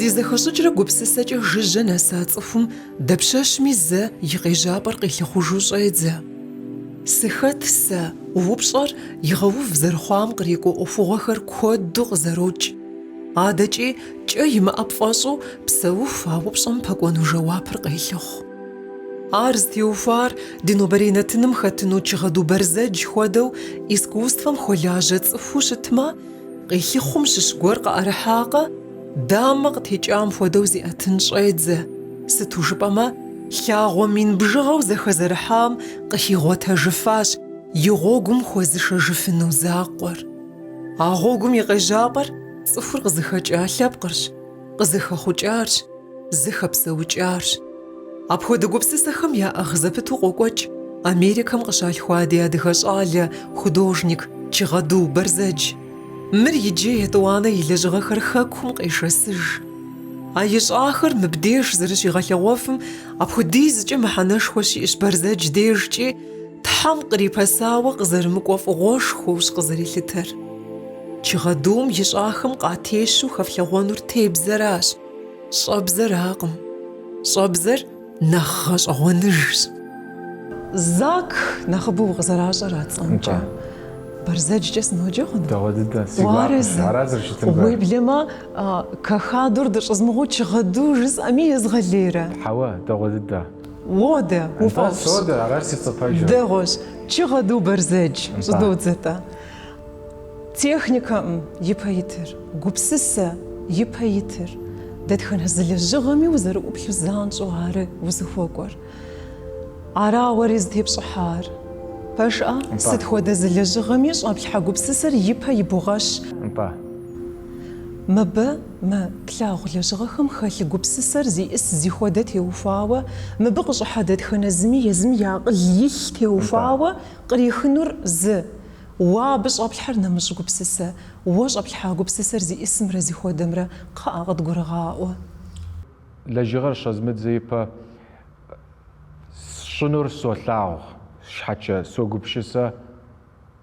Зи зэхэщӏыкӏрэ гупсысэкӏэ жыжьэ нэса цӏыхум дапщэщми зэ и къежьапӏэр къилъыхъужу щӏедзэ. Сыхэт сэ? упщӏэр игъэув зэрыхъуам кърикӏуэ ӏуэхугъуэхэр куэду къызэрокӏ. Адэкӏи кӏэ имыӏэ пфӏэщӏу псэуху а упщӏэм пэкӏуэну жэуапыр къелъыхъу. Ар зытеухуар ди нобэрей нэтыным хэтыну Чыгъэду Бэрзэдж хуэдэу искусствэм хуэлажьэ цӏыхуу щытмэ, къилъыхъум щыщ гуэр къыӏэрыхьакъэ, дамэ къытекӏам хуэдэу зиӏэтын щӏедзэ, сыту жыпӏэмэ лъагъуэ мин бжыгъэу зэхэзэрыхьам къыхигъуэтэжыфащ и гъуэгум хуэзышэжыфыну закъуэр. А гъуэгум и къежьапӏэр цӏыхур къызыхэкӏа лъэпкъырщ, къызыхэхъукӏарщ, зыхэпсэукӏарщ. Апхуэдэ гупсысэхэм яӏыгъ зэпыту къокӏуэкӏ Америкэм къыщалъхуа ди адыгэ щӏалэ художник Чыгъэду Бэрзэдж. Мыр иджы етӏуанэ и лэжьыгъэхэр хэкум къешэсыж. А ищӏахэр мыбдеж зэрыщигъэлъэгъуэфым апхуэдизкӏэ мыхьэнэшхуэ щиӏэщ Бэрзэдж дежкӏи, Тхьэм кърипэсауэ къызэрымыкӏуэ фӏыгъуэшхуэущ къызэрилъытэр. Чыгъэдум ищӏахэм къатещу хэфлъэгъуэнур тебзэращ, щӏэбзэракъым. Щӏэбзэр нэхъ гъэщӏэгъуэныжщ. Зак, нэхъыбэу укъызэращӏэр а цӏэмкӏэ. Бэрзэджкӏэ сыноджэ хъуну? Дэгъуэ дыдэ. Уарэзы? Уеблэмэ, Кахадор дыщӏызмыгъуу Чыгъэду жысӏэми, езгъэлейрэ? Хьэуэ, дэгъуэ дыдэ. Уодэ, уфӏэфӏщ. Содэ, аращ си цӏэ пэжыр. Дэгъуэщ, Чыгъэду Бэрзэдж щӏыдодзэ-тӏэ. Техникэкъым ипэ итыр, гупсысэ ипэ итыр. Дэтхэнэ зы лэжьыгъэми узэрыӏуплъу занщӏэу ары узыхуэкӏуэр. Арауэри зытепщӏыхьар. Пщӏа сыт хуэдэ зы лэжьыгъэми щӏэплъхьэ гупсысэр ипэ ибогъэщ. Мыбы. Мы плъагъу лэжьыгъэхэм хэлъ гупсысэр зиӏыс зихуэдэ теухуауэ, мыбы къыщӏыхьэ дэтхэнэ зыми езым и акъыл илъ теухуауэ кърихынур зы. Уэ абы щӏэплъхьэр нэмыщӏ гупсысэ, уэ щӏэплъхьа гупсысэр зиӏысымрэ зихуэдэмрэ, кхъыӏэ, къыдгурыгъаӏуэ. Лэжьыгъэр щӏэзмыдзэ ипэ сщӏынур солъагъу, щхьэчэ согупшысэ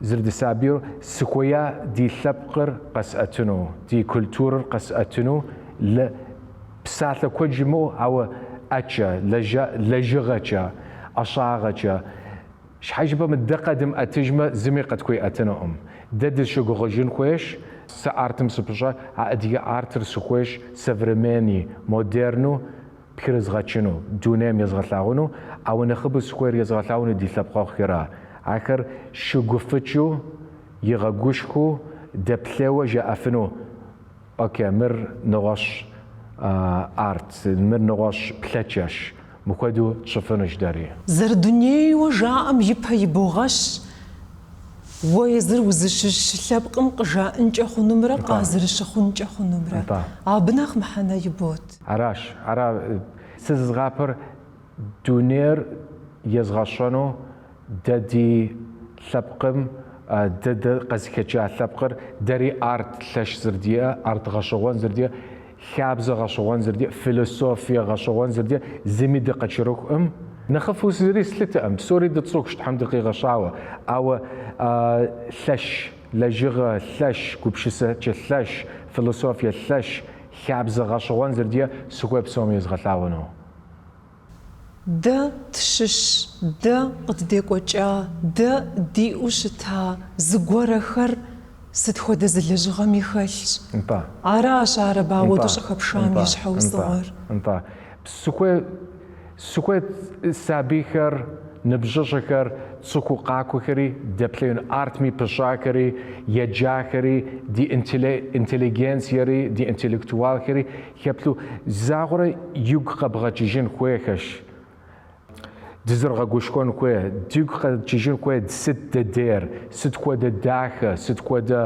Зэрыдысабийрэ сыхуея ди лъэпкъыр къэсӏэтыну, ди культурыр къэсӏэтыну, псалъэ куэд жымыӏэу, ауэ ӏэкӏэ, лэжьа, лэжьыгъэкӏэ, ӏэщагъэкӏэ. Щхьэ жыпӏэмэ, дэ къэдымыӏэтыжмэ, зыми къытхуиӏэтынукъым. Дэ дыщыгугъыжын хуейщ, сэ артым сыпыщӏэ, а адыгэ артыр сыхуейщ современный, модерну, пхырызгъэкӏыну, дунейм езгъэлъагъуну, ауэ нэхъыбэу сыхуейр езгъэлъагъуну ди лъэпкъэгъухэра. Ахэр щыгуфӏыкӏыу, игъэгушхыу, дэплъейуэ жаӏэфыну. Окей, мыр нэгъуэщӏ арт, мыр нэгъуэщӏ плъэкӏэщ, мыхуэдэу тщӏыфынущ дэри. Зэрыдунейуэ жаӏэм и пэ ибогъэщ, уэ езыр узыщыщ лъэпкъым къыжаӏэнкӏэ хъунумрэ къазэрыщыхъункӏэ хъунумрэ. Абы нэхъ мыхьэнэ ибот. Аращ, ара сэ зызгъапэр дунейр езгъэщӏэну, дэ ди лъэпкъым, дэ дыкъызыхэкӏа лъэпкъыр, дэри арт лъэщ зэрыдиӏэ, арт гъэщӏэгъуэн зэрыдиӏэ, хабзэ гъэщӏэгъуэн зэрыдиӏэ, философие гъэщӏэгъуэн зэрыдиӏэ, зыми дыкъыкӏэрыхуӏым. Нэхъыфӏу зыри слъытэӏым, псори дыцӏыхущ Тхьэм дыкъигъэщӏауэ, ауэ лъэщ, лэжьыгъэ лъэщ, гупшысэкӏэ лъэщ, философие лъэщ, Хабзэ гъэщӏэгъуэн зэрыдиӏэ сыхуей псоми езгъэлъагъуну. Дэ тщыщ, дэ къыддекӏуэкӏа, дэ диӏэу щыта зыгуэрэхэр сыт хуэдэ зы лэжьыгъэми хэлъщ. Нтӏэ. Аращ ар абауэду щӏыхэпшам и щхьэусыгъуэр. Нтӏэ. Сыхуей. Сыхуей сабийхэр, ныбжьыщӏэхэр, цӏыху къакӏуэхэри, дэплъеин артми пыщӏахэри, еджахэри, ди интеллигенцэри, ди интеллектуалхэри еплъу загъуэрэ игу къэбгъэкӏыжын хуейхэщ. Дызэрыгъэгушхуэн хуей, дигу къэкӏыжын хуей сыт дэ дейр, сыт хуэдэ дахэ, сыт хуэдэ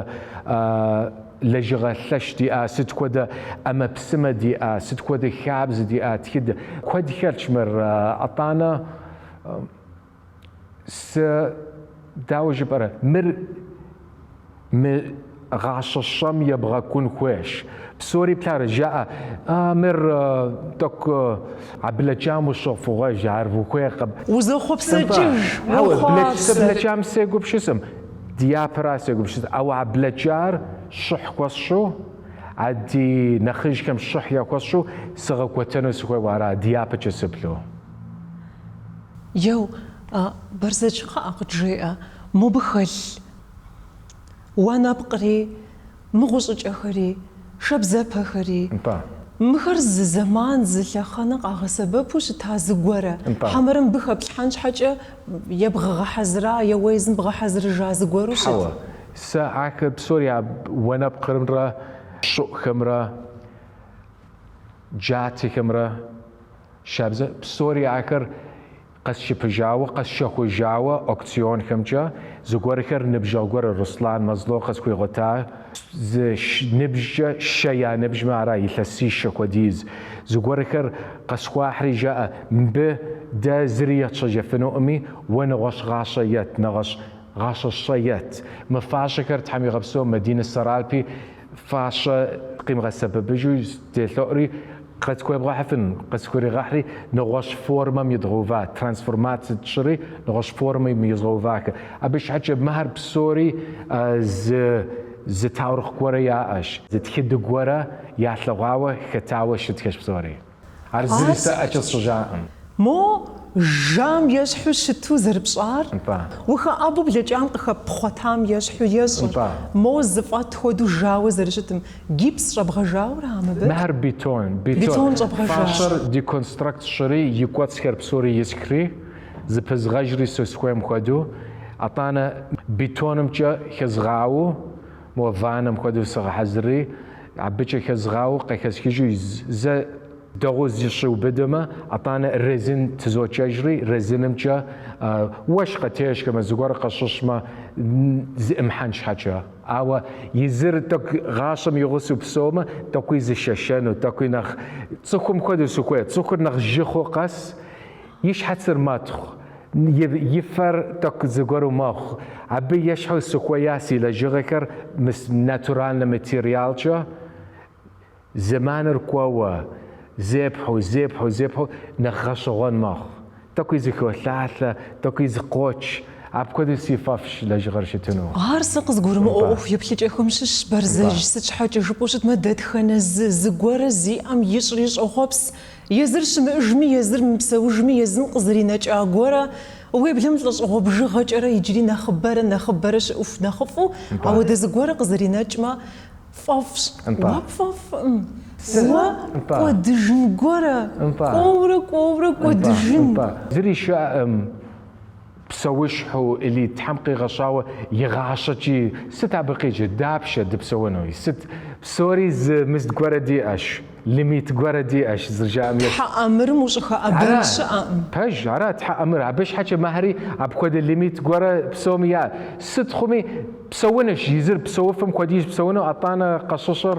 лэжьыгъэ лъэщ диӏа, сыт хуэдэ ӏэмэпсымэ диӏа, сыт хуэдэ хабзэ диӏа, тхыдэ. Куэд хэлъщ мыр, атӏанэ сэ, дауэ жыпӏэрэ, мыр мы гъащӏэ щӏэм ебгъэкӏун хуейщ. Псори плъагъурэ, жаӏэ, а, мыр тӏэкӏу а блэкӏам ущофыгъуэж, ар ухуейкъым. Узохъуэпсэкӏыж, уохъуапсэ. Сэ блэкӏам сегупшысӏым. Дяпэра сегупсыс, ауэ а блэкӏар щӏыхь хуэсщӏу, а ди нэхъыжьхэм щӏыхь яхуэсщӏу сыгъэкӏуэтэну сыхуейуэ ара, дяпэкӏэ сыплъу? Еу, Бэрзэдж, кхъыӏэ, къыджеӏэ, мобы хэлъ уанэпкъри. Мы гъущӏыкӏэхэри, шабзэпэхэри, мыхэр зы зэман, зы лъэхъэнэ къагъэсэбэпу щыта зыгуэрэ, хьэмэрэ мыбы хэплъхьэн щхьэкӏэ ебгъэгъэхьэзыра е уэ езым бгъэхьэзырыжа зыгуэру щыт? Хьэуэ, сэ ахэр псори я уанэпкъымрэ щӏыӏухэмрэ джатэхэмрэ шабзэ, псори ахэр Къэсщыпыжауэ, къэсщэхужауэ аукционхэмкӏэ зыгуэрхэр ныбжьэгъу гуэр Руслан Мазло къысхуигъуэта, зы ныбжькӏэ щэ я ныбжьмэ ара илъэсищэ хуэдиз, зыгуэрхэр къысхуахьри жаӏэ, мыбы дэ зыри етщӏэжыфынуӏыми, уэ нэгъуэщӏ гъащӏэ ет, нэгъуэщӏ гъащӏэщӏэ ет, мы фащӏэхэр Тхьэм игъэпсэу Мадинэ Сэралъпи Фащэ къимыгъэсэбэпыжу делъэӏури, къысхуебгъэхьыфын, къысхуригъэхьри, нэгъуэщӏ формэм идгъэува, трансформацэ тщӏыри, нэгъуэщӏ формэм изгъэувахэ. Абы щхьэкӏэ мыхьэр псори зы зы таурыхъ гуэрэ яӏэщ, зы тхыдэ гуэрэ ялъэгъуауэ хэтауэ щытхэщ псори. Ар зыри сэ ӏэкӏэ сщӏыжакъым. Мо жам ещхьу щыту зэрыпщӏар? Нтӏэ. Ухэӏэбэу блэкӏам къыхэппхъуэтам ещхьу ещӏыр? Нтӏэ. Мо зэфӏэт хуэдэу жауэ зэрыщытым, гипс щӏэбгъэжауэра мыбы? Мыхьэр бетон, бетон. Бетон щӏэбгъэжащ. Фащэр деконстракт сщӏыри, и кӏуэцӏхэр псори исхри, зэпызгъэжри сызыхуейм хуэдэу, атӏанэ бетонымкӏэ хэзгъауэу, Мо ванэм хуэдэу сыгъэхьэзырри, абыкӏэ хэзгъауэ къыхэсхыжу зэ дэгъуэу зыщиубыдэмэ, атӏанэ резин тызокӏэжри, резинымкӏэ уэшх къытешхэмэ, зыгуэр къыщыщӏмэ, зэӏымыхьэн щхьэкӏэ. Ауэ езыр тӏэкӏу гъащӏэм игъусэу псэумэ, тӏэкӏуи зышэшэну, тӏэкӏуи нэхъ цӏыхум хуэдэу сыхуей, цӏыхур нэхъ жьы хъу къэс, И щхьэцыр мэтхъу, и фэр тӏэкӏу зыгуэру мэхъу. Абы ещхьу сыхуея си лэжьыгъэхэр натуральнэ материалкӏэ зэманыр кӏуэуэ, зепхьу, зепхьу, зепхьу нэхъ гъэщӏэгъуэн мэхъу. Тӏэкӏуи зэхолъалъэ, тӏэкӏуи зэкъуоч. Апхуэдэу си фӏэфӏщ лэжьыгъэр щытыну. Ар сэ къызгурымыӏуэ ӏуэху еплъыкӏэхэм щыщщ, Бэрзэдж, сыт щхьэкӏэ жыпӏэу щытмэ, дэтхэнэ зы, зыгуэрэ зи ӏэм ищӏри щӏохъуэпс, Езыр щымыӏыжми, езыр мыпсэужми, езым къызэринэкӏа гуэрэ, уеблэм лӏэщӏыгъуэ бжыгъэкӏэрэ иджыри нэхъыбэрэ, нэхъыбэрэ щыӏэху нэхъыфӏу, ауэдэ зыгуэрэ къызэринэкӏмэ, фӏэфӏщ. Уэ пфӏэфӏкъым. Уэ кӏуэдыжын гуэрэ, кӏуэурэ-кӏуэурэ кӏуэдыжын. Зыри щыӏэкъым. Псэущхьэу или Тхьэм къигъэщӏауэ игъащӏэкӏи, сыт абы къикӏыр? Дапщэ дыпсэунуи? Сыт? Псори зы мызд гуэрэ диӏэщ, лимит гуэрэ диӏэщ, зэрыжаӏэм ещхь. Тхьэ ӏэмырым ущӏыхэӏэбэн Ара? щыӏэкъым. Пэж, ара Тхьэ ӏэмыр, абы щхьэкӏэ мыхьри апхуэдэ лимит гуэрэ псоми яӏэ. Сыт хъуми, псэунущ, езыр псэуфым хуэдизщ псэуну, атӏанэ къыщыщӏыр.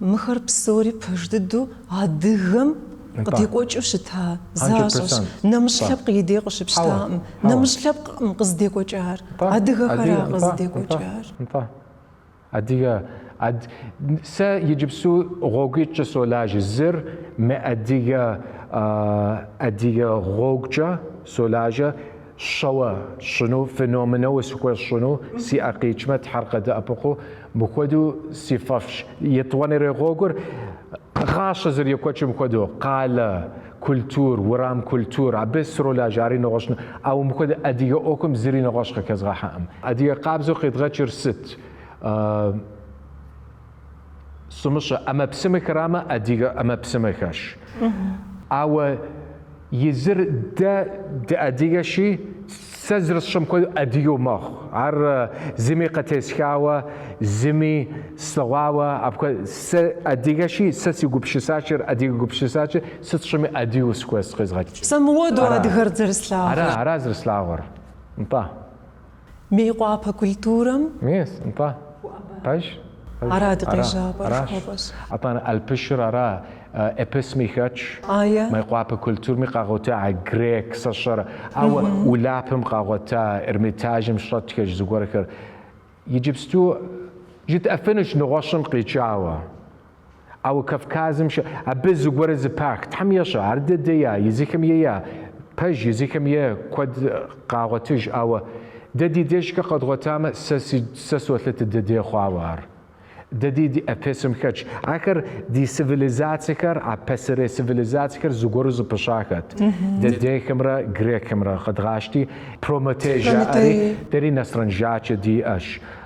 Мыхэр псори пэж дыдэу адыгэм къыдекӏуэкӏыу щыта защӏэщ. Нэмыщӏ лъэпкъ идей къыщыпщтакъым. Нэмыщӏ лъэпкъкъым къызыдекӏуэкӏар. Адыгэхэра къызыдекӏуэкӏар? Нтӏэ. Адыгэ. Сэ иджыпсту гъуэгуитӏкӏэ солажьэ. Зыр мы адыгэ адыгэ гъуэгукӏэ солажьэ. Щӏэуэ сщӏыну, феномену схуэщӏыну, си ӏэ къикӏмэ, тхьэр къыддэӏэпыкъу, мыхуэду сифӏэфӏщ. Етӏуанэрей гъуэгур гъащэ зэрекӏуэкӏым хуэдэу, къалэ, культур, урам культур, абы сролажьэ, ари нэгъуэщӏ ны. Ауэ мыхуэдэ адыгэ ӏуэхум зыри нэгъуэщӏ къыхэзгъэхьэкъым. Адыгэ къабзэу къидгъэкӏыр сыт? Сымыщӏэ, ӏэмэпсымэхэрамэ, адыгэ ӏэмэпсымэхэрщ. Ауэ езыр дэ дыадыгэщи, сэ зэрысщӏым хуэдэу адыгэу мэхъу. Ар зыми къытесхауэ, зыми слъэгъуауэ апхуэдэ. Сыадыгэщи, сэ си гупщысэкӏэр, адыгэ гупщысэкӏэр сыт сщӏыми адыгэу схуэзгъэкӏ. Сэ мыуэду адыгэр зэрыслъагъур. Ара, ара зэрыслъагъур, нтӏэ. Мейкъуапэ культурэм. Мес, нтӏэ, пэж, пэж. Ара дыкъежьапӏэр? Аращ. Хуэфӏэщ. Атӏэ, Алп шыр ара эпосми хэтщ. Ае. Мейкъуапэ культурми къагъуэта а грек сэщӏэр. Ауэ Улапым къагъуэта Эрмитажым щӏэтхэщ зыгуэрхэр иджыпсту жытӏэфынущ нэгъуэщӏым къикӏауэ. Ауэ Кавказым щы, абы зыгуэры зыпах, Тхьэм ещӏэ, ар дыдейя, езыхэм яйя, пэж, езыхэми куэд къагъуэтыж, ауэ Дэ ди дежкӏэ къэдгъуэтамэ, сэ си, сэ солъытэ дыдей хъуауэ ар. Дэ ди ди эпосым хэтщ. Ахэр ди цивилизацэхэр, а пасэрей цивилизацэхэр зыгуэру зыпыщӏахэт. Дыдейхэмрэ грекхэмрэ къэдгъащти, Прометей жаӏэри, дэри Нэсрэн Жьакӏэ диӏэщ.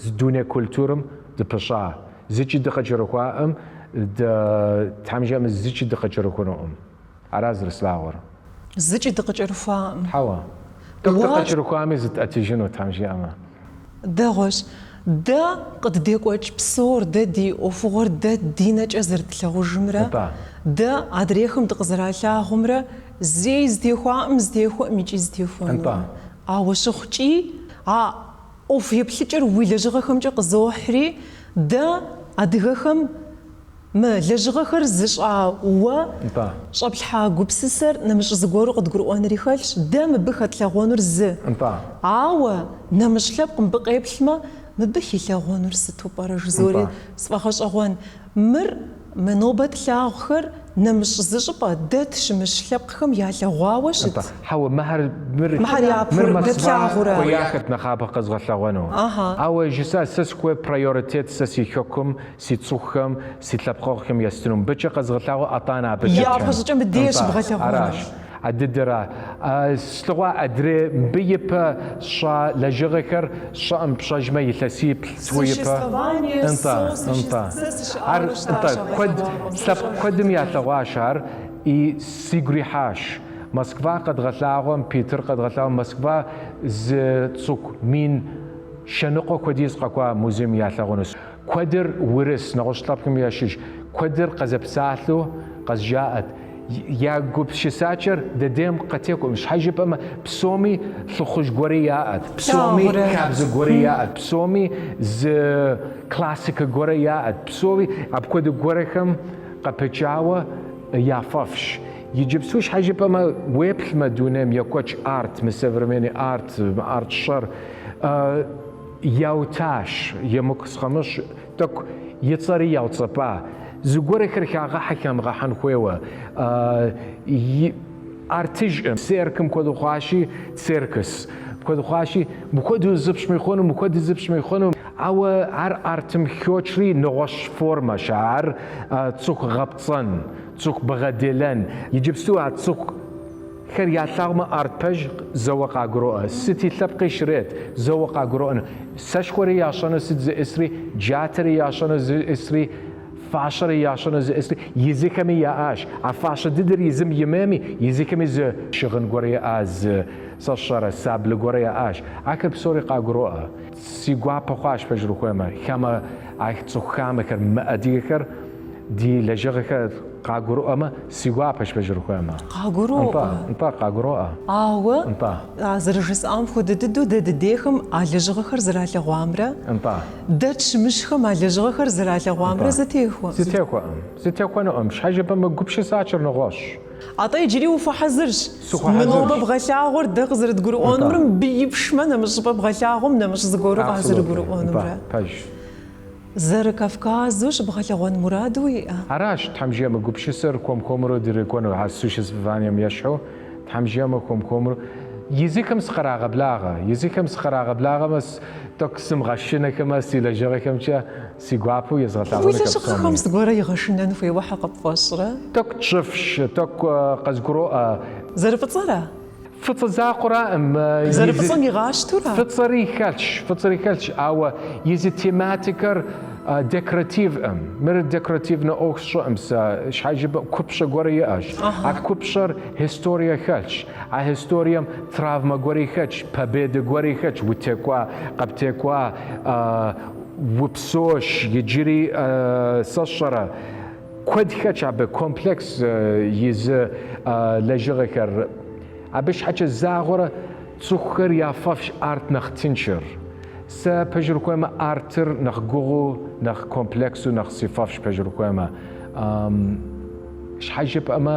Зы дуней культурым дыпыщӏа, зыкӏи дыкъыкӏэрыхуаӏым, дэ Тхьэм жиӏэмэ, зыкӏи дыкъыкӏэрыхунукъым. Ара зэрыслъагъур? Зыкӏи дыкъыкӏэрыхуаӏым. Хьэуэ. Тӏэкӏу дыкъыкӏэрыхуами, зытӏэтыжыну, Тхьэм жиӏэмэ. Дэгъуэщ. Дэ къыддекӏуэкӏ псор, дэ ди ӏуэхугъуэр, дэ ди нэкӏэ зэрыдлъагъужымрэ, дэ адрейхэм дыкъызэралъагъумрэ зэи зытехуаӏым, зытехуэӏым икӏи зытехуэнукъым. Ауэ щыхъукӏи, а ӏуэху еплъыкӏэр уи лэжьыгъэхэмкӏэ къызохьри, дэ, адыгэхэм, мы лэжьыгъэхэр зыщӏа уэ Нтӏэ. щӏэплъхьа гупсысэр нэмыщӏ зыгуэру къыдгурыӏуэнри хэлъщ, дэ мыбы хэтлъэгъуэнур зы. Нтӏэ. Ауэ, нэмыщӏ лъэпкъ мыбы къеплъмэ, мыбы хилъэгъуэнур сыту пӏэрэ, жызори Нтӏэ. сфӏэгъэщӏэгъуэн. Мыр. Мы нобэ тлъагъухэр нэмыщӏ зы щӏыпӏэ дэ тщымыщ лъэпкъхэм ялъэгъуауэ щыт? Хьэуэ, мыхэр, мыр, Мыхэр я мыр пур Москва дэ тлъагъурэ? хуеяхэт нэхъапэ къэзгъэлъэгъуэну. Ага. Ауэ жысӏа, сэ сыхуей прайоритет сэ си хэкум, си цӏыхухэм, си лъэпкъэгъухэм естыну. Мыбыкӏэ къэзгъэлъагъуэ итӏанэ абы щытын. Япэщӏыкӏэ мыдей щыбгъэлъэгъуэну. Нтӏэ, Аращ. А дыдэра? А слъэгъуа адрей мыбы ипэ сщӏа лэжьыгъэхэр сщӏэӏым пщӏэжмэ илъэсиплӏ сгу ипэ? Нтӏэ, нтӏэ. Ар, нтӏэ, куэд, лъэпкъ куэдым ялъэгъуащ ар, и сигу ирихьащ. Москва къэдгъэлъагъуэм, Питер къэдгъэлъагъуэм, Москва зы цӏыху мин щэныкъуэ хуэдиз къэкӏуа музейм ялъагъуну. Куэдыр урыс, нэгъуэщӏ лъэпкъым ящыщ, куэдыр къызэпсалъэу къызжаӏэт. Я гупсысакӏэр дыдейм къытехуэркъым. Щхьэ жыпӏэмэ, псоми лӏыхъужь гуэри яӏэт, псоми хабзэ гуэри яӏэт, псоми зы классикэ гуэрэ яӏэт, псоми апхуэдэ гуэрэхэм къапыкӏауэ яфӏэфӏщ. Иджыпсту щхьэ жыпӏэмэ, уеплъмэ, дунейм екӏуэкӏ арт, мы современный арт, арт щӏэр яутащ, емыкӏу сыкъэмыщӏ. Тӏэкӏу и цӏэри яуцӏэпӏа, зыгуэрэхэр хагъэхьэ хамыгъэхьэн хуейуэ. И арт иджы циркым хуэду хъуащи, циркус хуэду хъуащи, мыхуэду зыпщӏми хъуну, мыхуэду зыпщӏми хъуну. Ауэ ар артым хокӏри, нэгъуэщӏ формэщ ар, цӏыху гъэпцӏэн, цӏыху бгъэделэн. Иджыпсту а цӏыху. Хэр ялъагъумэ арт пэж зэуэ къагуроӏэ, сыти лъэпкъи щрет, зэуэ къагуроӏэ. Сэшхуэри ящӏэну сыт зиӏысри, джатэри ящӏэну зиӏысри, фащэри ящӏэну зиӏысри, езыхэми яӏащ. А фащэ дыдэр езым имыӏэми, езыхэми зы щыгъын гуэрэ яӏа, зы сащэрэ, саблэ гуэрэ яӏащ. Ахэр псори къагуроӏэ. Си гуапэ хъуащ пэжыр ухуеймэ, хамэ а цӏыху хамэхэр, мы адыгэхэр ди лэжьыгъэхэр къагурыӏуэмэ, си гуапэщ пэжыр ухуеймэ. Къагуроӏэ. Нтӏэ, нтӏэ, къагуроӏэ. Ауэ, Нтӏэ. а зэрыжысӏам хуэдэ дыдэу дэ дыдейхэм а лэжьыгъэхэр зэралъэгъуамрэ, Нтӏэ. дэ тщымыщхэм а лэжьыгъэхэр зэралъэгъуамрэ Нтӏэ. зэтехуэ. Зытехуэкъым. Зытехуэнукъым. Щхьэ жыпӏэмэ гупсысакӏэр нэгъуэщӏщ. Атӏэ иджыри ухуэхьэзырщ. Мы нобэ бгъэлъагъуэр дэ къызэрыдгурыӏуэнумрэ мыбы ипшмэ нэмыщӏ щӏыпӏэ бгъэлъагъуэм нэмыщӏ зыгуэру къазэрыгурыӏуэнумрэ. Пэж. ЗэрыКавказу щыбгъэлъэгъуэн мураду уиӏэ? Аращ Тхьэм жиӏэмэ гупсысэр хуэм-хуэмурэ дырекӏуэну, а существованием ещхьу Тхьэм жиӏэмэ хуэм-хуэмурэ. Езыхэм сыкъырагъэблагъэ. Езыхэм сыкъырагъэблагъэмэ, тӏэкӏу сымыгъэшынэхэмэ, си лэжьыгъэхэмкӏэ Си гуапэу езгъэлъагъуну Уи лэжьыгъэхэм псоми зыгуэрэ игъэшынэн хуейуэ щхьэ къыпфӏэщӏрэ? Тӏэкӏу кӏыфӏщ, тӏэкӏу къэзгуроӏэ. Зэрыфӏыцӏэра? Фӏыцӏэ закъуэраӏым. Зэрыфӏыцӏэм игъащтэура? Фӏыцӏэри хэлъщ, фӏыцӏэри хэлъщ, ауэ езы тематикэр декоративӏым. Мыр декоративнэ ӏуэху сщӏыӏым сэ. Щхьэ жыпӏэмэ купщӏэ гуэрэ иӏэщ. А купщӏэр историе хэлъщ. А историем травмэ гуэри хэтщ, победа гуэри хэтщ, утекӏуа, къэптекӏуа. Упсош, иджыри сэ сщӏэрэ, куэд хэтщ абы комплекс езы лэжьыгъэхэр. Абы щхьэкӏэ загъуэрэ цӏыхухэр яфӏэфӏщ арт нэхъ тыншыр. Сэ, пэжыр ухуеймэ, артыр нэхъ гугъуу, нэхъ комплексу нэхъ сфӏэфӏщ, пэжыр ухуеймэ. Щхьэ жыпӏэмэ,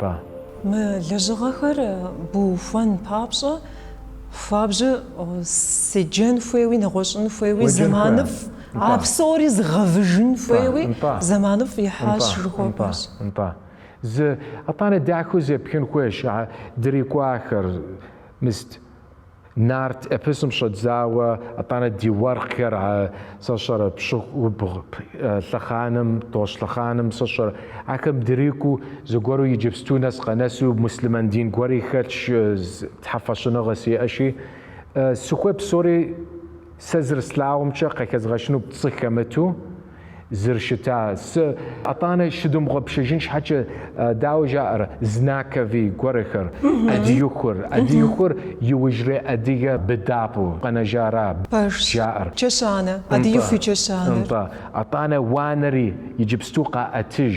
Ба. Мы лэжьыгъэхэр бухуэн папщӏэ хуабжьу седжэн хуейуи, нэгъуэщӏын хуейуи, зэманыфӏ, а псори згъэвыжын хуейуи зэманыфӏ ихьащ жыхуэпӏэщ. Ба. Зы атӏанэ дахэу зэпхын хуейщ а дрикӏуахэр, мыст. Нарт эпосым щӏэдзауэ атӏанэ ди уэркъхэр сэ сщӏэрэ пщыкӏубгъу лъэхъаным, тӏощӏ лъэхъаным сщӏэрэ. Ахэм дрикӏуу, зыгуэру иджыпсту нэс къэнэсу муслъымэн дин гуэри хэлъщ, тхьэфӏэщыныгъэ сиӏэщи. Сыхуей псори сэ зырыслъагъумкӏэ къыхэзгъэщыну пцӏы хэмыту. Зырыщыта, сы, атӏанэ щыдымыгъупщэжын щхьэкӏэ, дауэ жаӏэр, знакови гуэрхэр, ӏэдиихур, ӏэдиихур иужьрей адыгэ быдапӏэу къэнэжара Пэжщ. жаӏэр. Чэщанэ. Нтӏэ. Ӏэдииху и чэщанэр. Нтӏэ. Атӏанэ уанэри иджыпсту къаӏэтыж.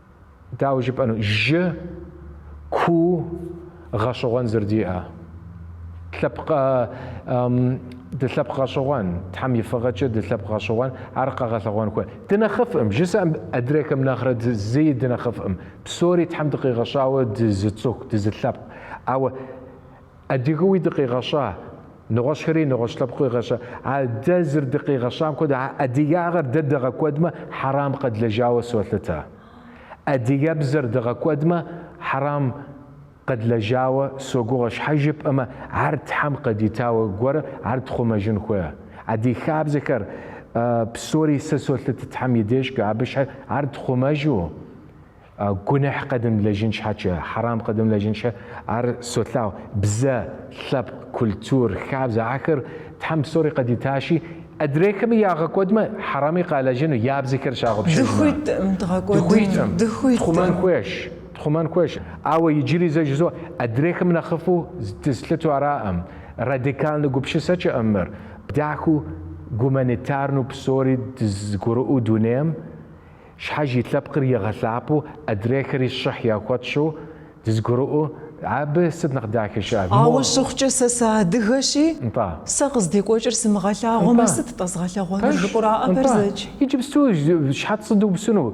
дауэ жыпӏэну, жьы, куу, гъэщӏыгъуэн зырдиӏэ. Лъэпкъ, дылъэпкъ гъэщӏыгъуэн, Тхьэм и фӏыгъэкӏэ дылъэпкъ гъэщӏыгъуэн, ар къэгъэлъэгъуэн хуей. Дынэхъыфӏым, жысӏэм адрейхэм нэхърэ зыи дынэхъыфӏым, псори Тхьэм дыкъигъэщӏауэ дызыцӏыху, дызылъэпкъ. Ауэ. Адыгэуи дыкъигъэщӏа, нэгъуэщӏхэри нэгъуэщӏ лъэпкъ къигъэщӏа. А дэ зырдыкъигъэщӏам хуэдэу а адыгагъэр дэ дыгъэкӏуэдмэ, хьэрам къэдлэжьауэ солъытэ. Адыгэбзэр дыгъэкӏуэдмэ, хьэрам къэдлэжьауэ согугъэ, щхьэ жыпӏэмэ, ар Тхьэм къыдитауэ гуэрэ ар тхъумэжын хуей. А ди хабзэхэр псори сэ солъыт Тхьэм и дежкӏэ, абы щхьэ ар тхъумэжу. Гуэныхь къэдмылэжьын щхьэкӏэ, хьэрам къэдмылэжьын щхьэ, ар солъагъу, бзэ, лъэпкъ, культур, хабзэ, ахэр Тхьэм псори къыдитащи, адрейхэми ягъэкӏуэдмэ, хьэрами къалэжьыну, я бзэхэр щагъупщэжмэ. Дыхуитӏым дгъэкӏуэдын. Дыхуитӏым. Тхъумэн хуейщ. Тхъумэн хуейщ. Ауэ иджыри зэ жызоӏэ, адрейхэм нэхъыфӏу дызлъыту араӏым. Радикальнэ гупсысэкӏэкъым мыр. Дахэу, гуманитарнэу псори дызгурыӏуэу дунейм. Щхьэж и лъэпкъыр игъэлъапӏэу, адрейхэри щыхь яхуэтщӏу, дызгурыӏуэу, абы сыт нэхъ дахэ щыӏэ? Ауэ щыхъукӏэ, сэ сыадыгэщи, Нтӏэ. сэ къыздекӏуэкӏыр сымыгъэлъагъуэмэ, Нтӏэ. сыт тӏэ згъэлъэгъуэнур? Пэжщ. Къызгуроӏуэ, Бэрзэдж. Иджыпсту щхьэ пцӏы дыупсыну?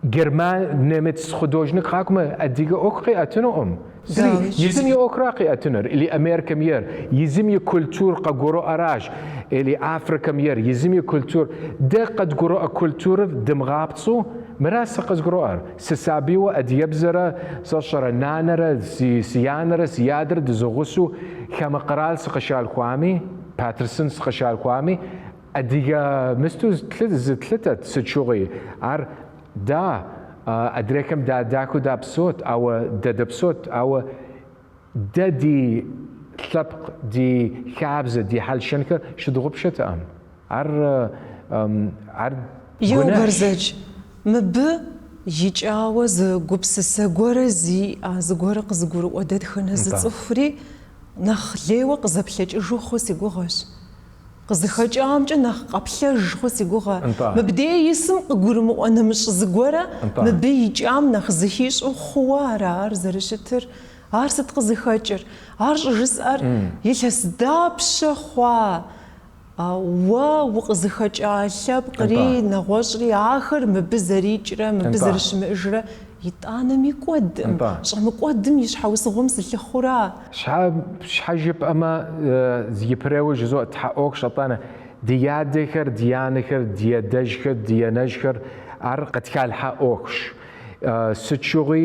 Герман, немец художник къакӏуэмэ, адыгэ ӏуэху къиӏэтынукъым. Зыри, езым и ӏуэхура къиӏэтынур, или Америкэм ейр, езым и культур къыгурыӏуэращ, или Африкэм ейр, езым и культур, дэ къыдгурыӏуэ культурыр дымгъапцӏу, мыра сэ къызгурыӏуэр, сысабийуэ адыгебзэрэ, сӏэщӏэрэ, нанэрэ, си, си анэрэ, си адрэ дызэгъусэу хамэ къэрал сыкъыщалхуами, Паттерсон сыкъыщалхуами, адыгэ мысту зытлъы, зытлъытэт, сыт щыгъуи, ар Да, адрейхэм дахэу дапсот, ауэ дэ дэпсот, ауэ дэ ди лъэпкъ, ди хабзэ, ди хьэл-щэнхэр щыдгъупщэтэкъым. Ар, ар Еу, гуэныхьщ. Бэрзэдж, мыбы икӏауэ зы гупсысэ гуэрэ зиӏэ, зыгуэрыр къызыгурыӏуэ дэтхэнэ зы Нтӏэ. цӏыхури нэхъ лейуэ къызэплъэкӏыжу хъу си гугъэщ. Къызыхэкӏамкӏэ нэхъ къэплъэж хъу си гугъэ. Мыбдей исым къыгурымыӏуэ нэмыщӏ зыгуэрэ мыбы икӏам нэхъ зыхищӏу хъууэ ара ар зэрыщытыр? Ар сыт къызыхэкӏыр? Ар щӏыжысӏэр илъэс дапщэ хъуа? Уэ укъызыхэкӏа лъэпкъри, нэгъуэщӏри, ахэр мыбы зэрикӏрэ мыбы зэрыщымыӏыжрэ Итӏанэми кӏуэдӏым, щӏэмыкӏуэдым и щхьэусыгъуэм сылъыхъура? Щхьэ, щхьэ жыпӏэмэ, зы, ипэрауэ жызоӏэ, Тхьэ ӏуэхущ, итӏанэ, ди адэхэр, ди анэхэр, ди адэжьхэр, ди анэжьхэр, ар къытхалъхьа ӏуэхущ. Сыт щыгъуи,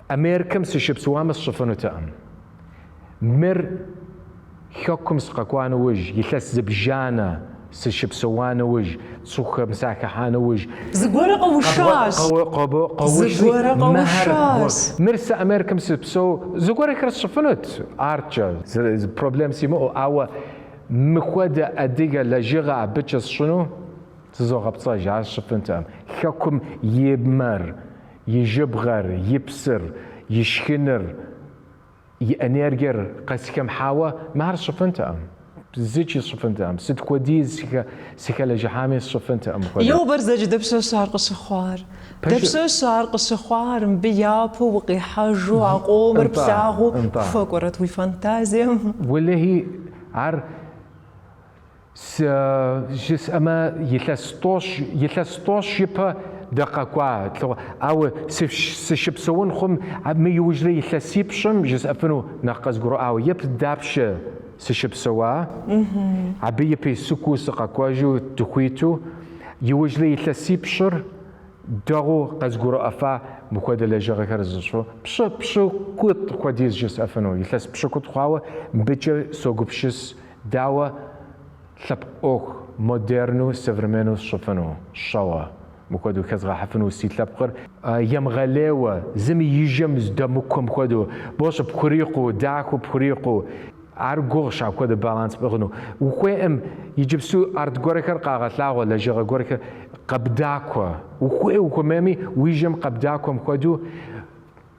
Америкэм сыщыпсэуамэ, сщӏыфынутэкъым. Мыр Хэкум сыкъэкӏуа нэужь, илъэс зыбжанэ сыщыпсэуа нэужь, цӏыхухэм сахыхьа нэужь. Зыгуэрэ къэушащ. Зыгуэрэ къэушащ. Мыр сэ Америкэм сыпсэу, зыгуэрхэр сщӏыфынут арткӏэ, проблем симыӏэу, ауэ мыхуэдэ адыгэ лэжьыгъэ абыкӏэ сщӏыну сызогъэпцӏэж, ар сщӏыфынутэкъым. Хэкум и мэр. и жьыбгъэр, и псыр, и щхыныр, и энергиер къэсхэмхьауэ мыхэр сщӏыфынтэкъым. Зыкӏи сщӏыфынтэкъым. Сыт хуэдиз сыхэлэжыхьами сщӏыфынтэкъым Еу, Бэрзэдж, дапщэщ ар къыщыхъуар? Дапщэщ ар къыщыхъуар, мыбы япэу укъихьэжу а къомыр плъагъуу пхуэкӏуэрэт уи фантазием? Уэлэхьи, ар. Жысӏэмэ, илъэс тӏощ, илъэс тӏощ ипэ дыкъэкӏуат. Ауэ сыщыпсэун хъум, мы иужьрей илъэсипщӏым жысӏэфыну нэхъ къэзгурыӏуауэ. Епт дапщэ сыщыпсэуа? Абы ипи сыкӏуэу сыкъэкӏуэжу дыхуиту, иужьрей илъэсипщӏыр дэгъуу къэзгурыӏуэфа мыхуэдэ лэжьыгъэхэр зыщӏу, пщӏы пщӏыкӏутӏ хуэдиз жысӏэфыну. Илъэс пщӏыкӏутӏ хъуауэ мыбыкӏэ согупщыс Дауэ лъэпкъ ӏуэху модерну, современну сщӏыфыну? Щӏэуэ, мыхуэдэу хэзгъэхьэфыну си лъэпкъыр? Емыгъэлейуэ, зыми и жьэм дэмыкуэм хуэдэу, бощӏ пхурикъуу, дахэу пхурикъуу. Ар гугъущ апхуэдэ баланс пӏыгъыну. Ухуейкъым иджыпсту арт гуэрхэр къагъэлъагъуэ, лэжьыгъэ гуэрхэр къэбдакуэ. Ухуей-ухуэмейми, уи жьэм къэбдакуэм хуэдэу.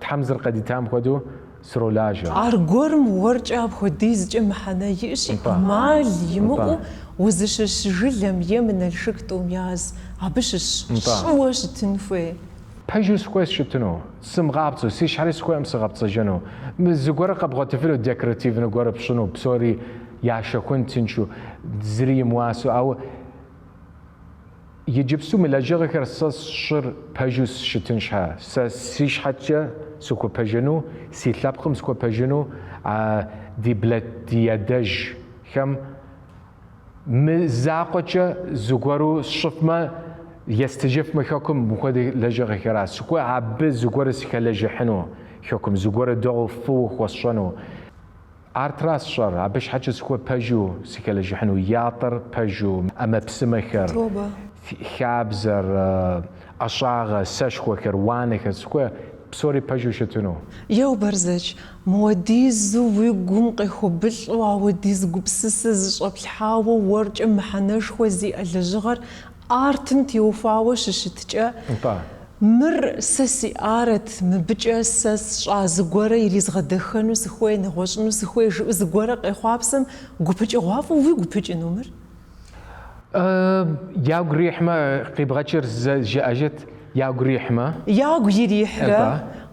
Тхьэм зэрыкъэдитам хуэдэу сролажьэ. Аргуэрым уэркӏэ апхуэдизкӏэ мыхьэнэ иӏэщи, ӏэмал имыӏэу узыщыщ жылэм е мы Налшык тӏум яз, абы щыщ щӏыуэ щытын хуей. Пэжу сыхуей сыщытыну, сымыгъапцӏэу, си щхьэри сыхуейкъым сыгъэпцӏэжыну, зыгуэрэ къэбгъуэтыфыну, декоративнэ гуэрэ пщӏыну, псори ящэхун тыншу, зыри и мыуасэу, ауэ. Иджыпсту мы лэжьыгъэхэр сэ сщӏыр пэжу сщытын щхьэ, сэ си щхьэкӏэ сыхуэпэжыну, си лъэпкъым сыхуэпэжыну а ди блэ, ди адэжьхэм мы закъуэкӏэ зыгуэру сщӏыфмэ, естыжыфмэ хэкум мыхуэдэ лэжьыгъэхэра. Сыхуей абы зыгуэру сыхэлэжьыхьыну хэкум, зыгуэру дэгъу фӏыуэ хуэсщӏэну. Артра сщӏэр, абы щхьэкӏэ сыхуэпэжу сыхэлэжыхьыну, ятӏэр пэжу, ӏэмэпсымэхэр, хабзэр, ӏэщӏагъэ, сэшхуэхэр, уанэхэр, сыхуей псори пэжу щытыну. Еу, Бэрзэдж, мыуэдизу уи гум къехуэбылӏу ауэдиз гупсысэ зыщӏэплъхьауэ уэркӏэ мыхьэнэшхуэ зиӏэ лэжьыгъэр Артым теухуауэ щыщыткӏэ, мыр сэ сиӏарэт, мыбыкӏэ сэ сщӏа зыгуэрэ иризгъэдэхэну сыхуей, нэгъуэщӏыну сыхуей жыӏэу зыгуэрэ къехъуапсэм, гупыкӏыгъуафӏэу уи гу пыкӏыну мыр? Ягу ирихьмэ, къибгъэкӏыр зэ жыӏэжыт, ягу ирихьмэ. Ягу ирихьрэ,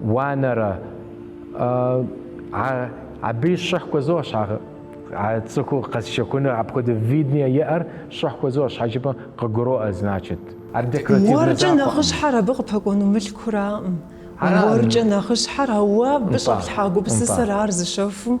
Уанэрэ? Абы и щӏыхь хуэзощӏ а цӏыхур къэзыщэхунур, апхуэдэ видение иӏэр щӏыхь хуэзощӏ, щхьэ жыпӏэм къыгуроӏуэ, значит. Уэркӏэ нэхъыщхьэр абы къыпэкӏуэну мылъкураӏым. Уэркӏэ нэхъыщхьэр ауэ абы щӏэплъхьа гупсысэр ар зыщэхум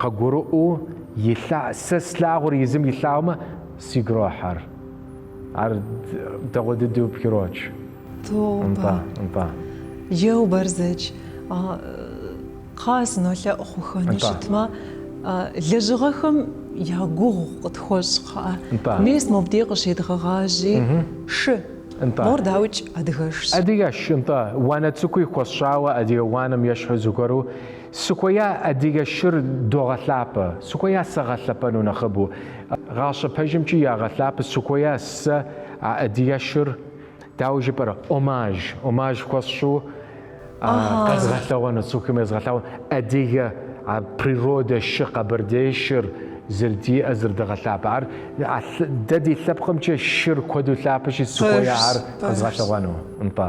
къыгурыӏуу илъа, сэ слъагъур езым илъагъумэ, сигу ирохь ар. Ар дэгъуэ дыдэу пхироч. Тоба. Нтӏэ. Еу, Барзэдж, кхъа сынолъэӏу хъухуэну щытмэ, лэжьыгъэхэм я гугъу къытхуэщӏ, кхъа. Нтӏэ. Мес мобдей къыщедгъэгъажьи, шы. Нтӏэ. Мор дауикӏ, адыгэшщ. Адыгэшщ, нтӏэ. Уанэ цӏыкӏуи хуэсщӏауэ адыгэ уанэм ещхьу зыгуэру. Сыхуея адыгэ шыр догъэлъапӏэ, сыхуея сэ гъэлъэпӏэну нэхъыбэу. Гъащӏэ пэжымкӏи ягъэлъапӏэ, сыхуея сэ а адыгэ шыр, дауэ жыпӏэрэ, омаж, омаж хуэсщӏу къэзгъэлъэгъуэну, цӏыхухэм езгъэлъагъуну адыгэ а природэ шыр, къэбэрдей шыр зэрыдиӏэр, зэрыдгъэлъапӏэр. Ар дэ ди лъэпкъымкӏэ шыр куэду лъапӏэщи, сыхуея ар къэзгъэлъэгъуэну, нтӏэ.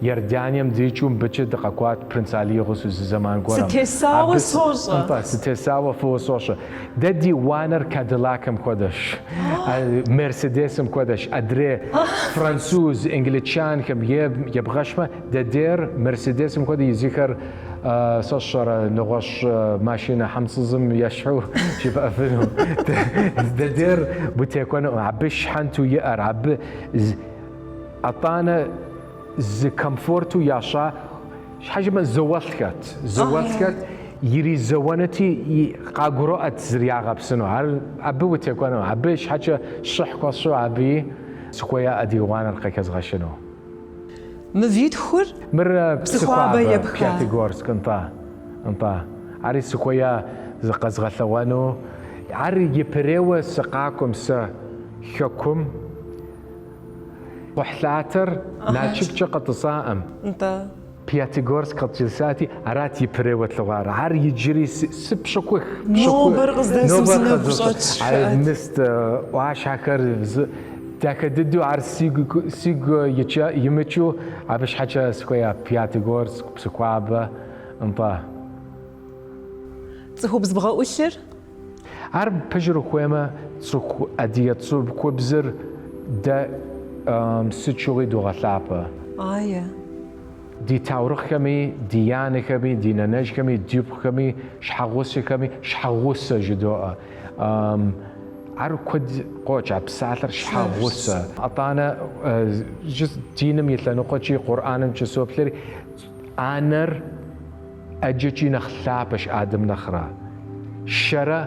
Иорданием дикӏыу мыбыкӏэ дыкъэкӏуат Принц Али и гъусэу зэман гуэрым. Сытесауэ сощӏэ. Нтӏэ, сытесауэ фӏыуэ сощӏэ. Дэ ди уанэр Кадиллакым хуэдэщ, Мерседесым хуэдэщ. Адрей француз, англичанхэм ебгъэщхьмэ, дэ дейр Мерседесым хуэдэ езыхэр, сщӏэрэ, нэгъуэщӏ машинэ хьэмцӏызым ещхьу жыпӏэфыну. Дэ дейр утекӏуэну, абы щхьэнтэу иӏэр, абы. Атӏанэ зы комфорту ящӏащ, щхьэ жыпӏэмэ зэуэлӏхэрт, зэуэлӏхэрт, иризэуэнути, къагуроӏуэт зэрагъэпсыну, ар абы утекӏуэну, абы щхьэкӏэ щӏыхь хуэсщӏу абыи сыхуея адыгэ уанэр къыхэзгъэщыну. Мывитхур Мыр Псыхуабэ епха? Пятигорск, нтӏэ, нтӏэ. Ари сыхуея къэзгъэлъэгъуэну, ар ипэрейуэ сыкъакӏуэм сэ Хэкум. Кхъухьлъатэр Налшыккӏэ къэтӏысаӏым. Нтӏэ. Пятигорск къыщытӏысати, арат ипэрейуэ тлъэгъуар. Ар иджыри сыпщыкӏух, пщыкӏух. Нобэр къыздэсым си нэгу щӏэтщ, жыӏэт. Мыст ӏуащхьэхэр зы дахэ дыдэу ар сигу имыкӏыу, абы щхьэкӏэ сыхуея Пятигорск, Псыхуабэ, нтӏэ. Цӏыхубз бгъэӏулъыр Ар пэжыр хуеймэ, цӏыху адыгэ цӏыхубзыр дэ сыт щыгъуи догъэлъапӏэ. Ае. Ди таурыхъхэми, ди анэхэми, ди нэнэжхэми, ди пхъухэми, щхьэгъусэхэми щхьэгъусэ жыдоӏэ. Ар куэд къокӏ а псалъэр щхьэгъусэ. Атӏанэ, диным и лъэныкъуэкӏи, Къурӏаным кӏысоплъри, Анэр ӏэджэкӏи нэхъ лъапӏэщ адэм нэхърэ. Щэрэ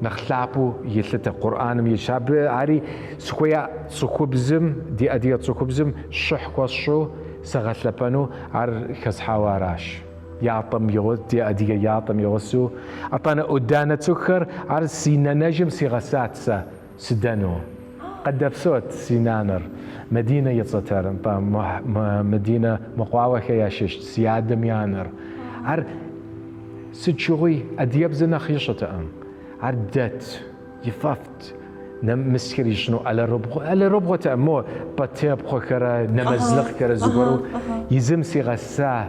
нэхъ лъапӏэу елъытэ Къурӏаным и щабэ. Ари сыхуея цӏыхубзым, ди адыгэ цӏыхубзым щӏыхь хуэсщӏу сгъэлъэпӏэну ар хэсхьауэ аращ. Ятӏэм игъу, ди адыгэ ятӏэм игъусэу, итӏанэ ӏуданэ цӏыкӏухэр, ар си нэнэжым сигъэсат сэ. Сыдэну? Къыддэпсэут, си нанэр Мадинэ и цӏэтэр, нтӏэ, Мадинэ Мыкъуауэхэ ящыщт си адэм и анэр. Ар сыт щыгъуи адыгэбзэ нэхъ ищӏыртэкъым. Ар дэт, и фӏэфӏт, нэмысхэр ищӏыну алэрыбгъу, алэрыбгъутэкъым, мо пӏэтепхъуэхэрэ нэмэзлыкъхэрэ зыгуэру езым сигъэса.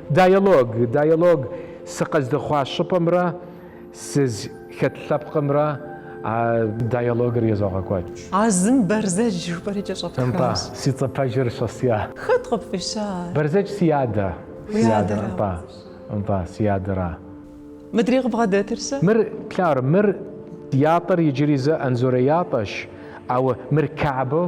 Диалог, Диалог, сыкъэздэхъуа щӏыпӏэмрэ сызхэт лъэпкъымрэ а диалогыр езогъэкӏуэкӏ. А зым Бэрзэдж жыпӏэрикӏэ Нтӏэ, щӏэтхащ. си цӏэ пэжыр щӏэсиа. Хэт къыпфӏища ар? Бэрзэдж си адэ. Уи Си адэ, адэрау. нтӏэ, нтӏэ, си адэра. Мыдрей къыбгъэдэтыр сэ? Мыр, плъагъур, мыр ятӏэр иджыри зэ Анзорэ ятӏэщ, ауэ мыр Кабэу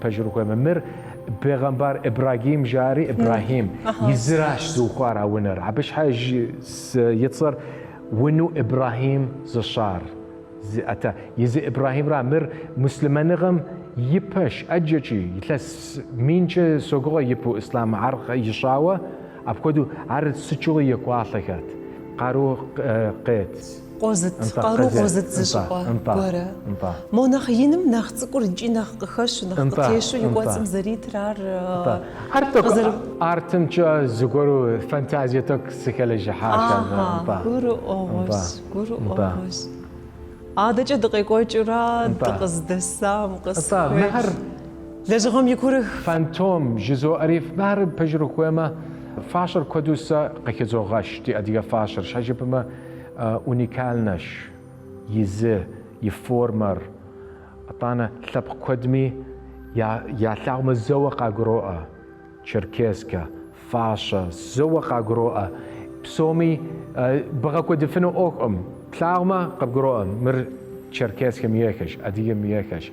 Пэжыр ухуеймэ, мыр пегъэмбар Ибрагим жари, Ибрагим езыращ зыухуар а унэр. Абы щхьэ и цӏэр унэу Ибрагим зыщӏар. Атэ, езы Ибрагимра мыр муслъымэныгъэм и пэщ, ӏэджэкӏи, илъэс минкӏэ согугъэ ипэу ислъам ар ищӏауэ, апхуэдэу ар сыт щыгъуи екӏуалӏэхэрт, къару къет. Къозыт, къару къозыт зыщӏыпӏэ гуэрэ. Мо нэхъ иным нэхъ цӏыкӏур икӏи нэхъ къыхэщу, нэхъ къытещу и кӏуэцӏым зэритыр ар. Ар тӏэкӏу артымкӏэ зыгуэру фантазие тӏэкӏу сыхэлэжыхьащ абы. Ага, гурыӏуэгъуэщ, гурыӏуэгъуэщ. Адэкӏэ дыкъекӏуэкӏыурэ дыкъыздэсам къысхуейщ. Лэжьыгъэм и курых. Фантом жызоӏэри, ар пэжыр ухуеймэ, фащэр куэду сэ къыхызогъэщ, ди адыгэ фащэр, щхьэ жыпӏэмэ, уникальнэщ, и зы, и формэр, итӏанэ лъэпкъ куэдми ялъагъумэ зэуэ къагуроӏуэ, черкескэ, фащэ, зэуэ къагуроӏуэ, псоми бгъэкӏуэдыфыну ӏуэхукъым, плъагъумэ къыбгуроӏуэ, мыр черкесхэм ехэщ, адыгэм ехэщ.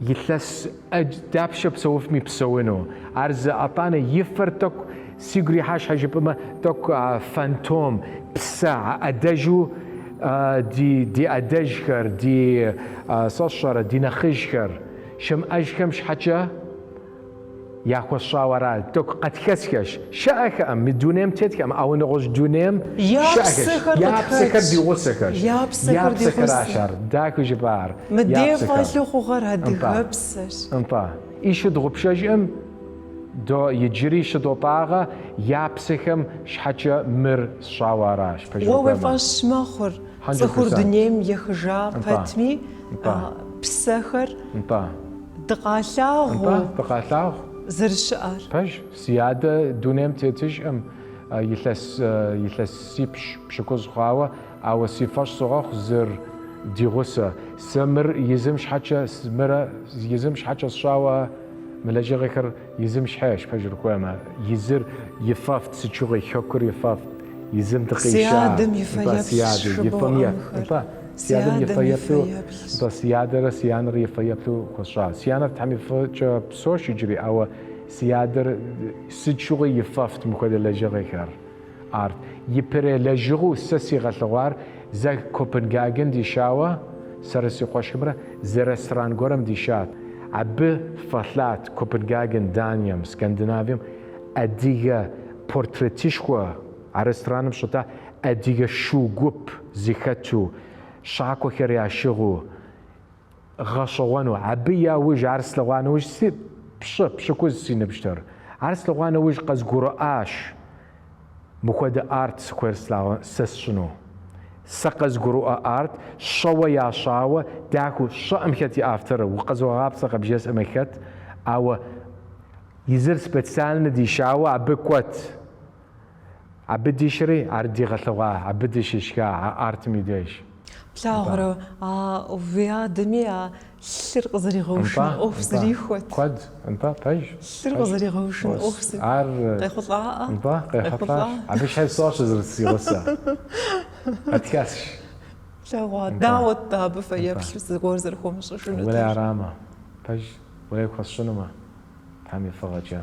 Илъэс дапщэ псэуфми псэуну? Ар зы итӏанэ и фэр тӏэкӏу сигу рихьа щхьэ жыпӏэмэ, тӏэкӏу а фантом, псэ, а адэжьу ди ди адэжьхэр, ди, сщӏэрэ, ди нэхъыжьхэр щымыӏэжхэм щхьэкӏэ, Яхуэсщӏауэ ара? Тӏэкӏу къытхэсхэщ. Щыӏэхэӏым, мы дунейм тетхэӏым, ауэ нэгъуэщӏ дунейм щыӏэхэщ. Я псэхэр ди гъусэхэщ. Я псэхэращ ар. Дахэу жыпӏа ар? Мыдейфӏэ лӏыхъугъэр адыгэпсэщ. Нтӏэ. И щыдгъупщэжӏым до иджыри щыдотӏагъэ, я псэхэм щхьэкӏэ мыр сщӏауэ аращ. Пэжыр хуеймэ. Уэ уи фӏэщ мэхъурэ, цӏыхур дунейм ехыжа пэтми, псэхэр. Нтӏэ. Дыкъалъагъу. Нтӏэ, дыкъалъагъу. Зэрыщыӏэр. Пэж, си адэ дунейм тетыжӏым, илъэс, илъэс си пщ, пщыкӏущ хъуауэ, ауэ си фэщ согъэхъу зэрыдигъусэ. Сэ мыр езым щхьэкӏэ, мыр езым щхьэкӏэ сщӏауэ, мы лэжьыгъэхэр. Изым щхьэщ, пэжыр хуеймэ, изыр ифӏэфӏт, сыт щыгъуи хэкур ифӏэфӏт. Изым дыкъиша, нтӏэ, си адэм и фэе, нтӏэ, си адэм и фэеплъу, нтӏэ, си адэрэ си анэрэ и фэеплъу хуэсщӏа. Си анэр Тхьэм и фӏыкӏэ псэущ иджыри, ауэ си адэр сыт щыгъуи ифӏэфӏт мыхуэдэ лэжьыгъэхэр. Арт. Ипэрей лэжьыгъэу сэ сигъэлъэгъуар зэ Копенгаген дишауэ, сэрэ си къуэшхэмрэ зы ресторан гуэрым дишат. Абы фэлъат Копенгаген, Данием, Скандинавием адыгэ портретишхуэ, а рестораным щыта адыгэ шу гуп зыхэту, щакӏуэхэр ящыгъыу. гъэщӏэгъуэну, абы яужь ар слыгъуа нэужь си пщы, пщыкӏуз си ныбжьтэр. Ар слыгъуа нэужь къэзгурыӏащ мыхуэдэ арт сыхуейр сэ сщӏыну. Сэ къэзгурыӏуэ артышхуэ ящӏауэ, дахэу, сщӏэӏым хэт и авторыр, укъэзогъапцӏэ къыбжесӏэмэ хэт, ауэ изыр специально дишауэ абы кӏуэт. Абы дишри ар дигъэлъыгъуа, абы дыщышха а артым и деж. Плъагъурэ, а уи адэми а лъыр къызэригъэушын ӏуэху зрихуэт. Куэд, нтӏэ, пэж. Лъыр къызэригъэушын ӏуэху зрихуэт. Ар. Къехъулӏаӏэ. Нтӏэ, къехъулӏащ. Абы щхьэи сощӏэ зэрысигъусэ. Къытхэсщ. Плъэгъуа, дауэт-тӏэ абы фэеплъу зыгуэр зэрыхуэмыщӏыжынутыр? Уэлей арамэ, пэж, уэлей хуэсщӏынумэ, Тхьэм и фӏыгъэкӏэ.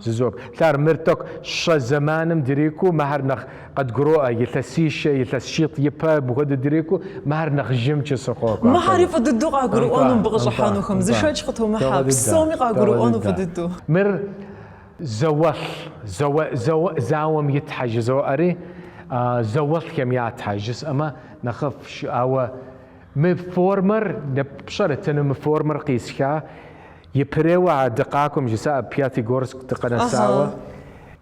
Зызок. Лъар мыр тӏэкӏу щӏэ зэманым дырекӏуэмэ ахэр нэхъ къыдгуроӏуэ, илъэсищэ, илъэс щитӏ ипэ хуэду дырекӏуэмэ ахэр нэхъ жьым чысыхъуэ. Ахэри фӏы дыдэу къагурыӏуэну мыбы къыщӏыхьэнухэм зы шэч къытомыхьэ, псоми къагурыӏуэну фӏы дыдэу. Мыр зауэлӏ, зауэм и тхьэ жызоӏэри, зауэлӏхэм я тхьэ жысӏэмэ нэхъыфӏщ, ауэ мы формэр, пщӏэр ытыну мы формэр къисха, Япэрейуэ а дыкъакӏуэм жысӏа Пятигорск дыкъэнэсауэ,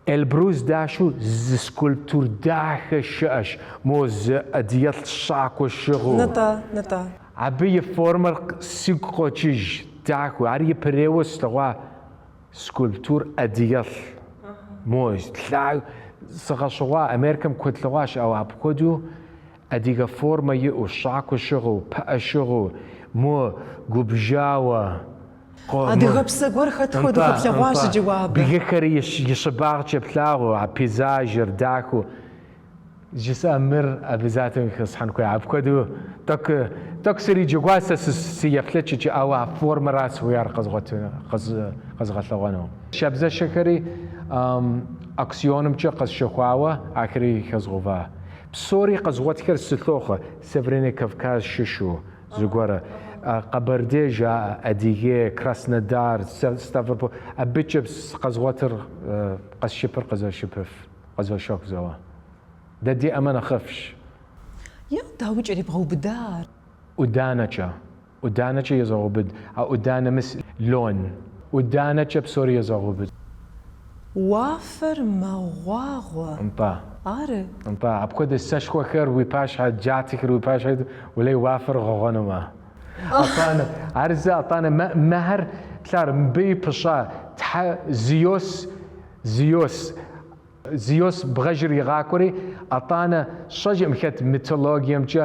Эльбрус дашэу зы скульптур дахэ щыӏэщ, мо зы адыгэлӏ щӏакӏуэ щыгъыу. Нытӏэ, нытӏэ. Абы и формэр сигу къокӏыж, дахэу. Ар япэрейуэ слъэгъуа скульптур адыгэлӏ. Мо, лъа, сыгъэщӏэгъуа, Америкэм куэд слъэгъуащ, ауэ апхуэдэу Адыгэ формэ иӏэу, щӏакӏуэ щыгъыу, пыӏэ щыгъыу, мо, губжьауэ, къо, мы. Адыгэпсэ гуэр хэт хуэдэу хэплъэгъуащ иджы уэ абы? Бгыхэр и и щӏыбагъкӏэ плъагъуу, а пейзажыр дахэу жысӏа мыр абы задым къыхэсхьэн хуей. Апхуэдэу тӏэкӏу, тӏэкӏу сыриджэгуа сэ си си еплъыкӏэкӏэ, ауэ а формэра сыхуеяр къэзгъуэту, къэз, къэзыгъэлъэгъуэну. Шабзэшэхэри ам аукционымкӏэ къэсщэхуауэ ахэри хэзгъэува. Псори къэзгъуэтхэр сылъохъуэ, Северный Кавказ щыщу зыгуэру, Къэбэрдей жаӏэ, Адыгей, Краснодар, Ставрополь, абыкӏэ къэзгъуэтыр къэсщыпыр къызощыпыф, къызощэху зэуэ. Дэ диӏэмэ нэхъыфӏщ. Е дауи кӏэрыбгъэубыда ар? ӏуданэкӏэ. ӏуданэкӏэ езэгъубыд, а ӏуданэ мыс, лон, ӏуданэкӏэ псори езэгъубыд. Уафэр мэгъуагъуэ, Нтӏэ. ары? Нтӏэ. Апхуэдэ сэшхуэхэр уи пащхьэ, джатэхэр уи пащхьэ иту, уэлей уафэр гъуэгъуэнумэ. Атӏанэ, ар зы атӏанэ мэ, мэхэр плъар, мыбыи пыщӏа, тхьэ Зеус, Зеус, Зеус бгъэжыр игъакӏуэри, атӏанэ, сщӏэжкъым хэт митологиемкӏэ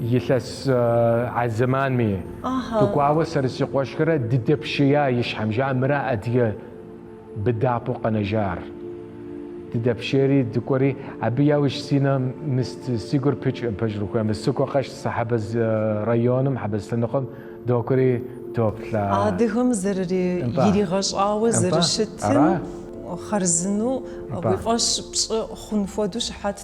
Илъэс а зэманми дыкӏуауэ сэры си къуэшхэрэ дыдэпщея и щхьэм, жа мыра адыгэ быдапӏэу къэнэжар. Дыдэпщейри дыкӏуэри, абы яужь си нэ мыст си гур пыкӏ пэжрухуэ Мысыкуэ къэщ сэ Хьэбэз районым, Хьэбэз лъэныкъуэм докӏуэри доплъэ. Адыгэм зэрыри иригъэщӏауэ зэрыщытым хъарзынэу уи фӏэщ пщӏы хъун хуэдэу щыхьэт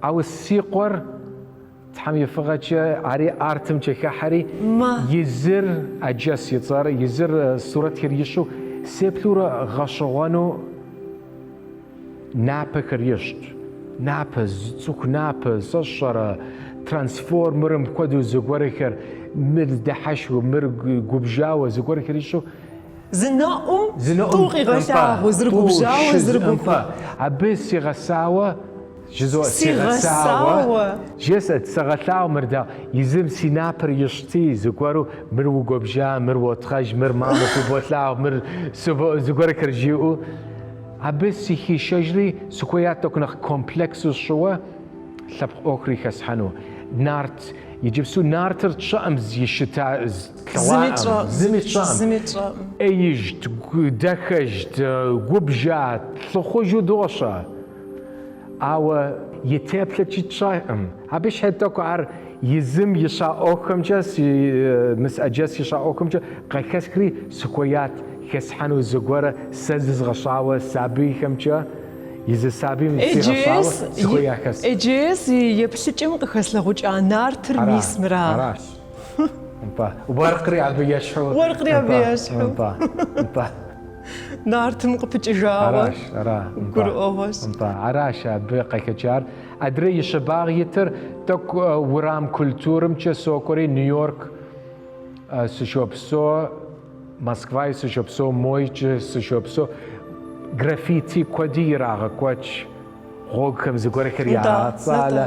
Ауэ си къуэр Тхьэм и фӏыгъэкӏэ ари артымкӏэ хыхьэри, езыр Аджэс и цӏэр, езыр сурэтхэр ищӏу сеплъурэ гъэщӏэгъуэну напэхэр ищӏт. Напэ, цӏыху напэ, сэ сщӏэрэ, трансформерым хуэдэу зыгуэрхэр, мыр дыхьэшхыу, мыр губжьауэ зыгуэрхэр ищӏу Зы нэӏум Зы нэӏум тӏу къигъэлъагъу, зыр губжьауэ, тӏу щы зыӏэм фэ. зыр гуфӏэу. Абы сигъэсауэ жызоӏэ, сигъэсауэ. Сигъэсауэ. Жесӏэт, сэгъэлъагъу, мыр дэгъуэ. Езым си напэр ищӏти, зыгуэру, мыр угубжьа, мыр уотхъэж, мыр мамэ фӏыуэ болъагъу, мыр сыво, зыгуэрхэр жиӏэу. Абы сыхишэжри, сыхуеят тӏэкӏу нэхъ комплексу сщӏыуэ лъэпкъ ӏуэхури хэсхьэну. Нарт, иджыпсту нартыр тщӏыӏэм зыщыта. Плъэгъуаӏым, зыми тщӏэӏым. ӏеижт, дэхэжт, губжьат, лӏыхъужу дощӏэ. Ауэ и теплъэкӏи тщӏэӏым. Абы щхьэи тӏэкӏу ар езым ищӏа ӏуэхухэмкӏэ, мыс Эджес ищӏа ӏуэхухэмкӏэ къыхэсхри сыхуеят хэсхьэну зыгуэрэ сэ зызгъэщӏауэ сабийхэмкӏэ, езы сабийм сигъэщӏауэ сыхуея хэс. Эджес и еплъыкӏэм къыхэслъэгъукӏа нартыр мис мыра? Нтӏэ. Уэркъри абы ещхьу. Уэркъри абы ещхьу. Нтӏэ. Нтӏэ. Нартым къыпыкӏыжауэ. Аращ, ара. Гурыӏуэгъуэщ. Нтӏэ. Аращ абы къыхэкӏар. Адрей и щӏыбагъ итыр тӏэкӏу уэрам культурэмкӏэ сокӏуэри Нью-Йорк сыщопсо, Москвай сыщопсо, мойкӏэ сыщопсо. Граффити куэди ирагъэкӏуэкӏ гъуэгухэм зыгуэрхэр ягъэцӏалэ,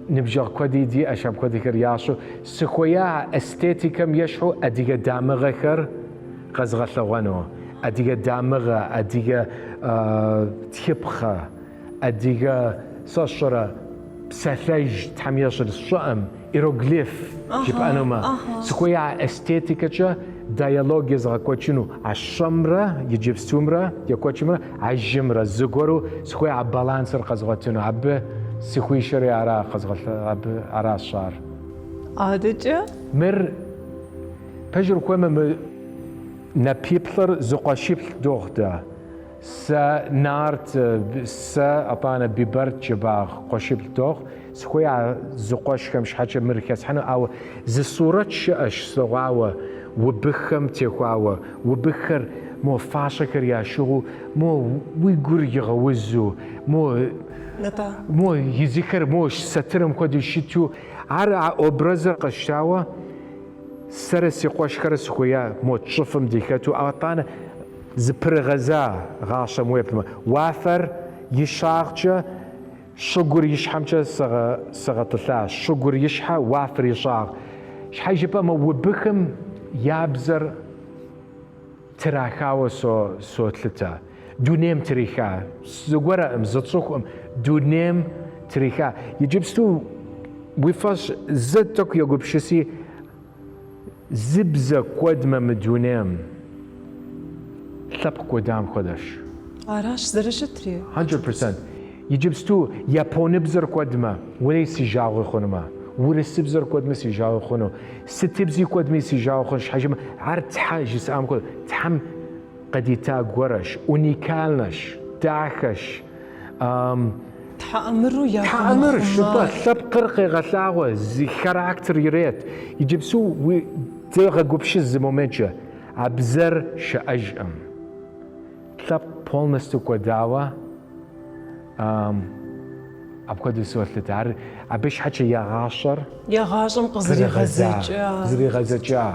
ныбжьэгъу куэди диӏэщ апхуэдэхэр ящӏу. Сыхуея эстетикэм ещхьу адыгэ дамыгъэхэр къэзгъэлъэгъуэну. Адыгэ дамыгъэ, адыгэ тхыпхъэ, адыгэ сэ сщӏэрэ псалъэжь Тхьэм ещӏэр сщӏэӏым. Иероглиф жыпӏэнумэ, сыхуея эстетикэкӏэ диалог езгъэкӏуэкӏыну, а щӏэмрэ иджыпстумрэ екӏуэкӏымрэ а жьымрэ зыгуэру сыхуей а балансыр къэзгъуэтыну. Абы сыхуишэри ара къэзгъэлъ, абы аращ ар. Адэкӏэ? Мыр пэжыр ухуеймэ, мы напиплӏыр зэкъуэшиплӏ дохъу дэ. Сэ Нарт, сэ итӏанэ Бибэрт Джэбагъ къуэшиплӏ дохъу. Сыхуея зэкъуэшхэм щхьэкӏэ мыр хэсхьэну, ауэ зы сурэт щыӏэщ слъэгъуауэ убыххэм техуауэ. Убыххэр мо фащэхэр ящыгъыу, мо уи гур игъэузу, мо мо езыхэр мо сатырым хуэдэу щыту, ар а образыр къэсщтауэ, сэрэ си къуэшхэрэ сыхуея мо кӏыфӏым дыхэту, итӏанэ Зэпырыгъэза гъащӏэм уеплъмэ, уафэр и щӏагъкӏэ щӏыгур и щхьэмкӏэ згъэтӏылъащ, щӏыгур и щхьэ, уафэр и щӏагъ. Щхьэ жыпӏэмэ, убыхым я бзэр трахауэ солъытэ, дунейм триха. Зыгуэркъым, зы цӏыхукъым, дунейм триха. Иджыпсту уи фӏэщ зэ тӏэкӏу егупсыси, Зы бзэ кӏуэдмэ мы дунейм лъэпкъ кӏуэдам хуэдэщ. Аращ зэрыщытри. Hundred percent. Иджыпсту японыбзэр кӏуэдмэ, уэрей си жагъуи хъунумэ, урысыбзэр кӏуэдмэ си жагъуи хъуну, сытыбзи кӏуэдми си жагъуи хъунщ, щхьэ жыпӏэм ар Тхьэ жысӏам хуэдэу, Тхьэм къыдита гуэрэщ, уникальнэщ, дахэщ. Тхьэӏэмыру я Тхьэӏэмыр щӏыпӏэ лъэпкъыр къегъэлъагъуэ, зы характер ирет. Иджыпсу дегъэгупщыс зы моменткӏэ, а бзэр щыӏэжкъым. Лъэпкъ полностью кӏуэдауэ апхуэдэу солъыт. Ар абы щхьэкӏэ я гъащӏэр. Я гъащӏэм къызригъэзэкӏа. Зригъэзэкӏа.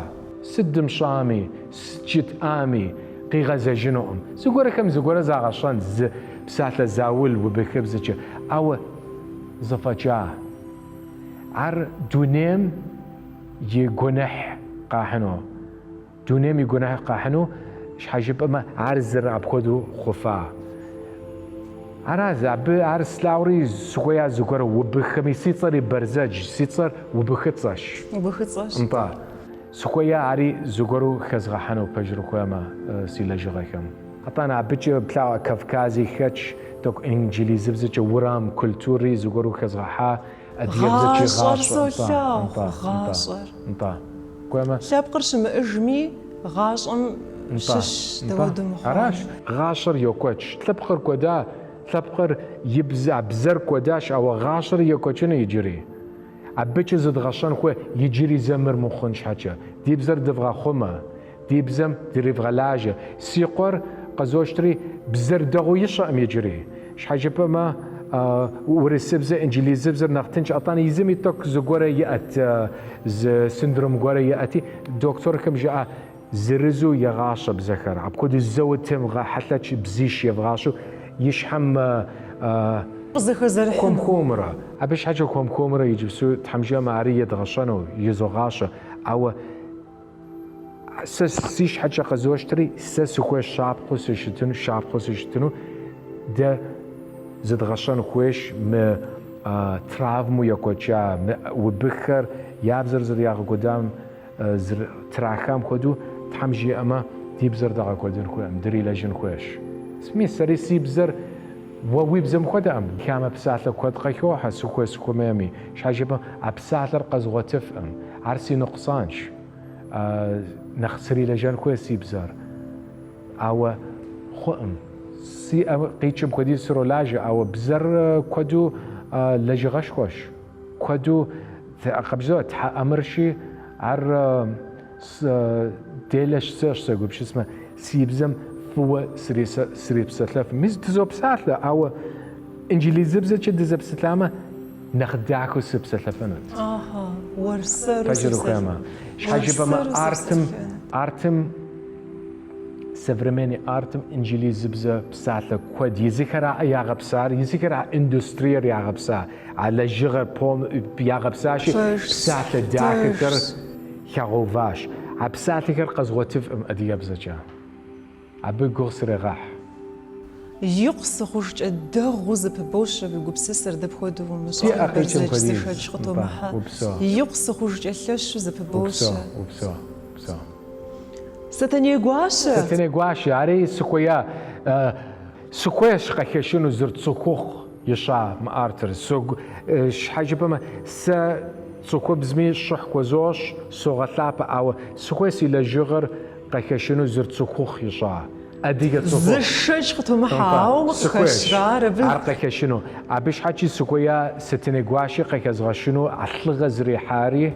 Сыт дымщӏами, Сыт жытӏами, къигъэзэжынукъым. Зыгуэрхэм зыгуэрэ загъэщӏэн зы псалъэ заул убыхыбзэкӏэ, ауэ зэфӏэкӏа? Ар дунейм и гуэныхь къахьыну? Дунейм и гуэныхь къахьыну щхьэ жыпӏэмэ, ар зэрапхуэдэу хъуфа? Аращ, абы ар слъагъури сыхуея зыгуэр убыххэми, си цӏэри Бэрзэдж, си цӏэр убыхыцӏэщ. Убыхыцӏэщ. Нтӏэ. Сыхуея ари зыгуэру хэзгъэхьэну пэжыр ухуеймэ си лэжыгъэхэм. Атӏанэ абыкӏэ плъагъэ Кавкази хэтщ, тӏэкӏу инджылизыбзэкӏэ урам, культури зыгуэру хэзгъэхьа, адыгэбзэкӏи гъащӏэ, нтӏэ, нтӏэ, нтӏэ, нтӏэ. Лъэпкъыр щымыӏыжми, гъащӏэм щыщ дауэду мыхъуар. Гъащӏэр йокӏуэкӏ. Лъэпкъыр кӏуэда, лъэпкъыр и бзэ, а бзэр кӏуэдащ, ауэ гъащӏэри екӏуэкӏыну иджыри. Абыкӏэ зыдгъэщӏэн хуей иджыри зэ мыр мыхъун щхьэкӏэ, ди бзэр дывгъэхъумэ, ди бзэм древгъэлажьэ. Си къуэр къызощтри, бзэр дэгъуэу ищӏэкъым иджыри. Щхьэ жыпӏэмэ, урысыбзэ, инджылызыбзэр нэхъ тыншщ, атӏанэ езыми тӏэкӏу зыгуэрэ иӏэт, зы синдром гуэрэ иӏэти, докторхэм жаӏа, Зырызу егъащӏэ бзэхэр. Апхуэдэу зэуэ темгъэ хьэлъэщ бзищ евгъащӏэу и щхьэм а. Къызэхэзэрыхьын. Хуэм-хуэмурэ. Абы щхьэкӏэ хуэм-хуэмурэ иджыпсу Тхьэм жиӏэмэ ари едгъэщӏэну езогъащӏэ. Ауэ сэ си щхьэкӏэ къызощтри, сэ сыхуейщ щапхъэу сыщытыну, щапхъэу сыщытыну. Дэ зыдгъэщӏэн хуейщ мы травмэу екӏуэкӏа, мы убыххэр я бзэр зэрыягъэкӏуэдам. Зэрытрахам хуэдэу Тхьэм жиӏэмэ, ди бзэр дгъэкӏуэдын хуейкъым, дрилэжьын хуейщ. Сми, сэри си бзэр уэ уи бзэм хуэдэкъым. Хамэ псалъэ куэд къыхохьэ, сыхуей сыхуэмейми. Щхьэ жыпӏэм а псалъэр къэзгъуэтыфкъым. Ар си ныкъусанщ. Нэхъ срилэжьэн хуей си бзэр. Ауэ хъуӏым. Си ӏэ къикӏым хуэдиз сролажьэ, ауэ бзэр куэду лэжьыгъэшхуэщ. Куэду къэбзэу Тхьэ ӏэмырщи, ар делэ щысэщ, сегупщысмэ, си бзэм фӏыуэ срепсэлъэф. Мис дызопсалъэ, ауэ инджылызыбзэкӏэ дызэпсэлъамэ, нэхъ дахэу сыпсэлъэфынут. Ага, уэрсэру. Пэжыр ухуеймэ. Щхьэ жыпӏэмэ, артым, артым, современный артым инджылызыбзэ псалъэ куэд, езыхэра ягъэпсар, езыхэра индустриер ягъэпса. А лэжьыгъэр пом ягъэпсащи, псалъэ дахэхэр хагъэуващ. А псалъэхэр къэзгъуэтыфӏым адыгэбзэкӏэ. Абы гугъу срегъэхь. Икъусыкъужкӏэ дэгъуэу зэпыбощэ уи гупсысэр, дапхуэдэу умыщӏа, Бэрзэдж. Зы шэч къытомыхьэ. Икъусыкъужкӏэ лъэщу зэпыбощэ. Сэтэнейгуащэ! Сэтэнейгуащэ, ари сыхуея. Сыхуейщ къыхэщыну зэрыцӏыхухъу ищӏа мы артыр, согу... щхьэ жыпӏэмэ, сэ цӏыхубзми щӏыхь хуэзощӏ, согъэлъапӏэ, ауэ сыхуей си лэжьыгъэр къыхэщыну зэрыцӏыхухъу ищӏа. Адыгэ цӏыхухъу. Зы шэч къытумыхьэ, ауэ къыхэщрэ ар абы? Ар къыхэщыну. Абы щхьэкӏи сыхуея Сэтэнейгуащи къыхэзгъэщыну а лӏыгъэ зэрихьэри.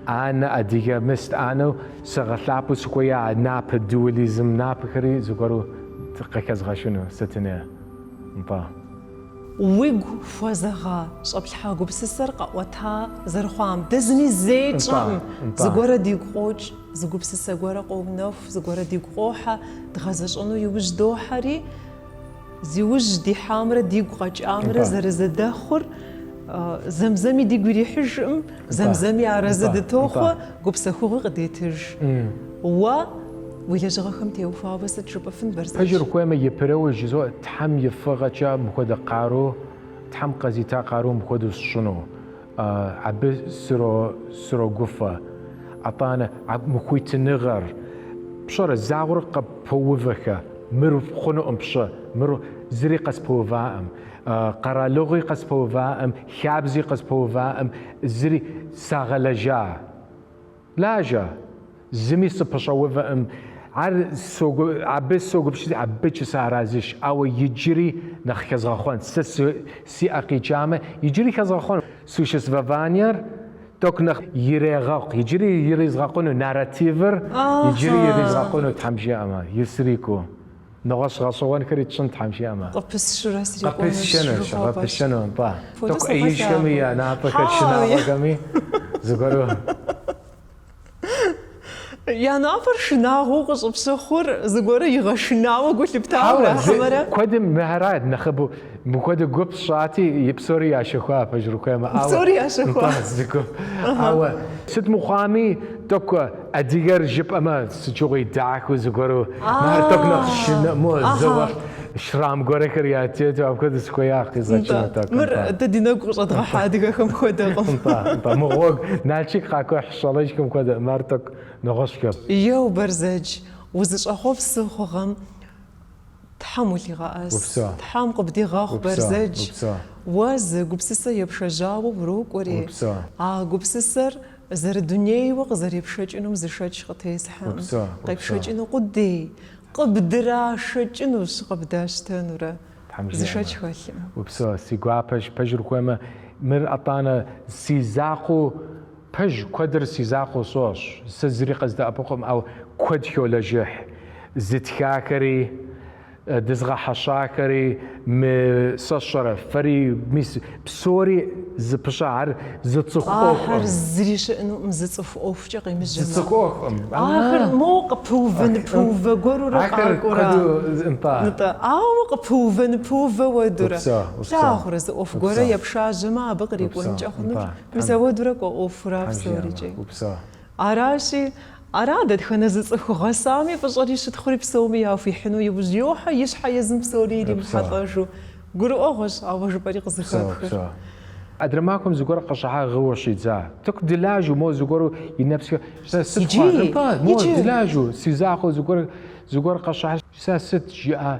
Анэ адыгэ мыст анэу сэгъэлъапӏэу сыхуея а напэ дуализм напэхэри зыгуэру къыхэзгъэщыну Сэтэней. Ба. Уигу хуэзэгъа щӏэплъхьа гупсысэр къэӏуэта зэрыхъуам? Дэ зыми зэи тщӏэкъым. Ба. Зыгуэрэ дигу къокӏ, зы гупсысэ гуэрэ къоунэху, зыгуэрэ дигу къохьэ, дгъэзэщӏэну иужь дохьэри, зи ужь дихьамрэ дигу къэкӏамрэ Ба. зэрызэдэхъур зэм-зэми дигу ирихьыжкъым, Ба. зэм-зэми арэзы Ба. дытохъуэ. Ба. Гупсэхугъуи къыдетыж. Уэ уи лэжьыгъэхэм теухуауэ сыт жыпӏэфын, Бэрзэдж? Пэжыр ухуеймэ, япэрауэ жызоӏэ, Тхьэм и фӏыгъэкӏэ мыхуэдэ къару, Тхьэм къэзита къару мыхуэдэу сщӏыну, абы срогуфӏэ. Атӏанэ, а мыхуитыныгъэр, пщӏэрэ, загъуэр къэппэувэхэ? Мыр хъунукъым, пщӏы, мыр зыри къэспэуваӏэм, къэралыгъуи къэспэуваӏэм, Хабзи къыспэуваӏэм, зыри, сагъэлэжьа. Лажьэ, зыми сыпэщӏэувэӏым. Ар согу... абы согупщ... абыкӏ сыаразыщ, ауэ иджыри нэхъ хэзгъэхъуэнт. Сэ сы... си ӏэ къикӏамэ, иджыри хэзгъэхъуэнт. Существованиер тӏэкӏу нэхъ ирегъэкъу. Иджыри иризгъэкъуну, нарративыр иджыри иризгъэкъуну, Тхьэм жиӏэмэ, и сырикуу. Нэгъуэщӏ гъэщӏэгъуэнхэр итщӏын Тхьэм жиӏэмэ. Къыпысщэурэ срикъунущ жыхуэпӏэщ. Къыпысщэну, къыпысщэну, нтӏэ. Тӏэкӏу ӏеижхэми я напэхэр, шынагъуэхэми зыгуэру. Я напэр шынагъуэу къыщӏыпщыхъур зыгуэру игъэшынауэ гу лъыптауэ, хьэмэрэ? Хьэуэ, куэдым мыхьэрат нэхъыбэу. Мыхуэдэ гуп сщӏати, и псори ящэхуа пэжыр хуеймэ. Псори ящэхуа. Зыгуп. Ауэ сыт мыхъуами, тӏэкӏу адыгэр жыпӏэмэ, сыт щыгъуи дахэу зыгуэру, ар тӏэкӏу нэхъ шынэ, мо, зэуэ шрам гуэрхэр ятету, апхуэдэ сыхуея къизгъэкӏыну тӏэкӏу. Мыр дэ ди нэгу къыщӏэдгъэхьа адыгэхэм хуэдэкъым. Нтӏэ, нтӏэ, мы гъуэгу Налшык къакӏухь щӏалэжьхэм хуэдэкъым, ар тӏэкӏу нэгъуэщӏхэм. Еу, Бэрзэдж, узыщӏэхъуэпс хъугъэм. Тхьэм улъигъэӏэс. Упсэ. Тхьэм къыбдигъэхъу, Упсэ, Бэрзэдж. упсэ. Уэ зы гупсысэ епшэжьауэ урокӏуэри, Упсэ. а гупсысэр зэрыдунейуэ къызэрепшэкӏынум зы шэч къытесхьэм, Упсэ, упсэ. къепшэкӏыну къудей, къыбдрашэкӏынущ къыбдащтэнурэ, Тхьэм зы жиӏэмэ. шэч хэлъым. Упсэ, си гуапэщ, пэжыр хуеймэ, мыр итӏанэ си закъуэу Пэж куэдыр си закъуэу сощӏ, сэ зыри къыздэӏэпыкъум, ауэ куэд холэжьыхь, зытхахэри, дызыгъэхьэщӏахэри, мы, сэ сщӏэрэ, фэри, мис, псори зыпыщӏа, ар зы цӏыху ӏуэхукъым. Ахэр зыри щыӏэнукъым зы цӏыху ӏуэхукӏэ къемыжьэмэ. Зы цӏыху ӏуэхукъым. Ахэр, мо, къыпыувэ-ныпыувэ гуэрурэ къакӏуэра? Нтӏэ, ауэ къыпыувэ-ныпыувэ уэдурэ? Плъагъурэ зы ӏуэху гуэрэ епшажьэмэ, абы кърикӏуэнкӏэ хъунур Мис ауэдурэ кӏуэ ӏуэхура Тхьэм жиӏэмэ, псорикӏи? упсэу. Аращи, ара дэтхэнэ зы цӏыху гъэсами фӏыщӏэри щытхъури псоми яхуихьыну иужь йохьэ и щхьэ езым псори иримыхьэлӏэжу. Гурыӏуэгъуэщ, ауэ жыпӏэри Псэу, къызыхэпхыр. псэу. Адрэ махуэм зыгуэр къыщӏыхьа, гъыуэ щӏидза. Тӏэкӏу дылажьэу, моуэ зыгуэру и нэпсхэр, сэ сыт Иджы, хъуа? Нобэ, моуэ иджы! дылажьэу, си закъуэу зыгуэр, зыгуэр къыщӏыхьащ, сэ сыт? жиӏа.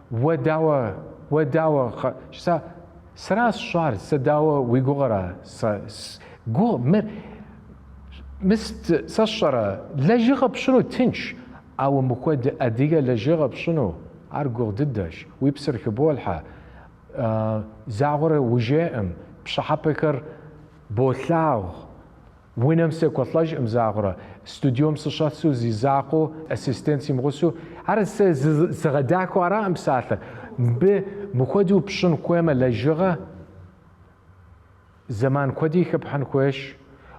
Уэ дауэ, уэ дауэ, кхъэ, сэ, сэра зыщӏар, сэ дауэ уи гугъэра, сэ, с, гу, мы, мы сыт, сэ сщӏэрэ, лэжьыгъэ пщӏыну тыншщ, ауэ мыхуэдэ адыгэ лэжьыгъэ пщӏыну, ар гугъу дыдэщ, уи псэр хыболъхьэ, э, загъуэрэ ужеӏым, пщӏыхьэпӏэхэр болъагъу. Унэм секӏуэлӏэжкъым загъуэрэ, студиом сыщӏэсу си закъуэу, ассистент симыгъусэу. Ар сэ зызгъэдахэу араӏым псалъэр. Мыбы мыхуэдэу пщӏын хуеймэ, лэжьыгъэ зэман куэди хэпхьэн хуейщ,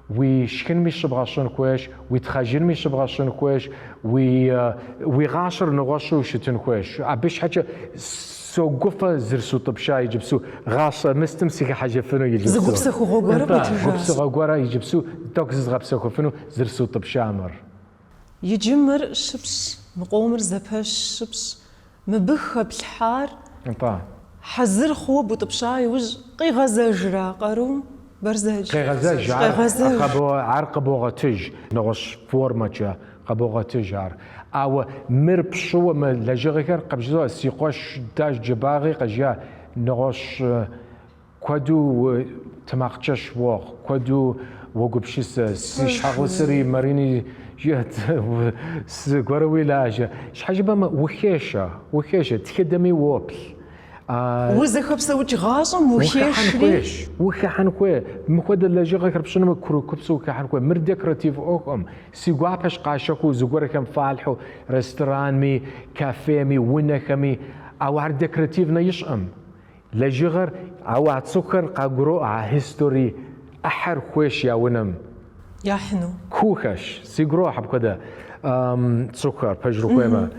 уи шхынми щыбгъэщӏын хуейщ, уи тхъэжынми щыбгъэщӏын хуейщ, уи гъащӏэр нэгъуэщӏу щытын хуейщ. Абы щхьэкӏэ Согуфӏэ зэрысутӏыпща иджыпсу, гъащӏэ мыстым сыхыхьэжыфыну иджыпсу. Зы гупсэхугъуэ гуэрэ къуитыжащ. Гупсэхугъуэ гуэрэ иджыпсу тӏэкӏу зызгъэпсэхуфыну зэрысутӏыпща мыр. Иджы мыр щыпщӏ, мы къомыр зэпэщ щыпщӏ, мыбы хэплъхьар. Нтӏэ. Хьэзыр хъууэ бутӏыпща иужь, къигъэзэжра къарум? Бэрзэдж. Къегъэзэж ар, къэбо, ар къыбогъэтыж, нэгъуэщӏ формэкӏэ къэбогъэтыж ар. Ауэ мыр пщӏыуэ, мы лэжьыгъэхэр къыбжызо, си къуэш даж Джэбагъи къэжа, нэгъуэщӏ куэду уэ тэмакъкӏэщӏ уохъу, куэду уогупсысэ, си щхьэгъусэри Марини жиӏэт, зыгуэру уи лажьэ. Щхьэ жыпӏэмэ, ухешэ, ухешэ, тхыдэми уоплъ. Узэхэпсэукӏ гъащӏэм ухешри. Ухыхьэн хуейщ, ухыхьэн хуей. Мыхуэдэ лэжьыгъэхэр пщӏынумэ, курыкупсу ухыхьэн хуей. Мыр декоратив ӏуэхукъым. Си гуапэщ къащэхуу зыгуэрхэм фӏалъхьэу ресторанми, кафеми, унэхэми. Ауэ ар декоративнэ ищӏкъым. Лэжьыгъэр. Ауэ а цӏыхухэр къагуроӏуэ а хистори ӏыхьэр хуейщ я унэм. Яхьыну. Куухэщ. Сигу ирохь апхуэдэ цӏыхухэр пэжыр ухуеймэ.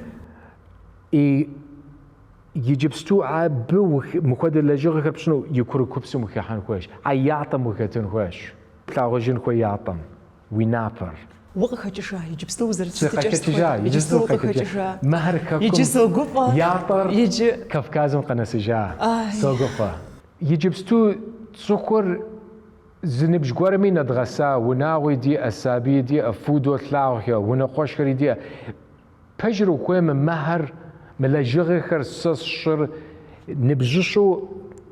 И. Иджыпсту абы мыхуэдэ лэжьыгъэхэр пщӏыну и курыкупсым ухыхьэн хуейщ, а ятӏэм ухэтын хуейщ, плъагъужын хуей ятӏэм уи напэр. Укъыхэкӏыжа иджыпсту узэрыцӏыхукӏэр сытхуэдэ? Иджыпсту укъыхэкӏыжа? Мыхэр хэкум ятӏэр Кавказым къэнэсыжа? Согуфӏэ. Иджыпсту цӏыхур зы ныбжь гуэрми нэдгъэса, унагъуи диӏэ, сабии диӏэ, фӏыуэ долъагъухэ, унэкъуэщхэри диӏэ. Пэжыр ухуеймэ, мыхэр, мы лэжьыгъэхэр сэ сщӏыр ныбжьыщӏу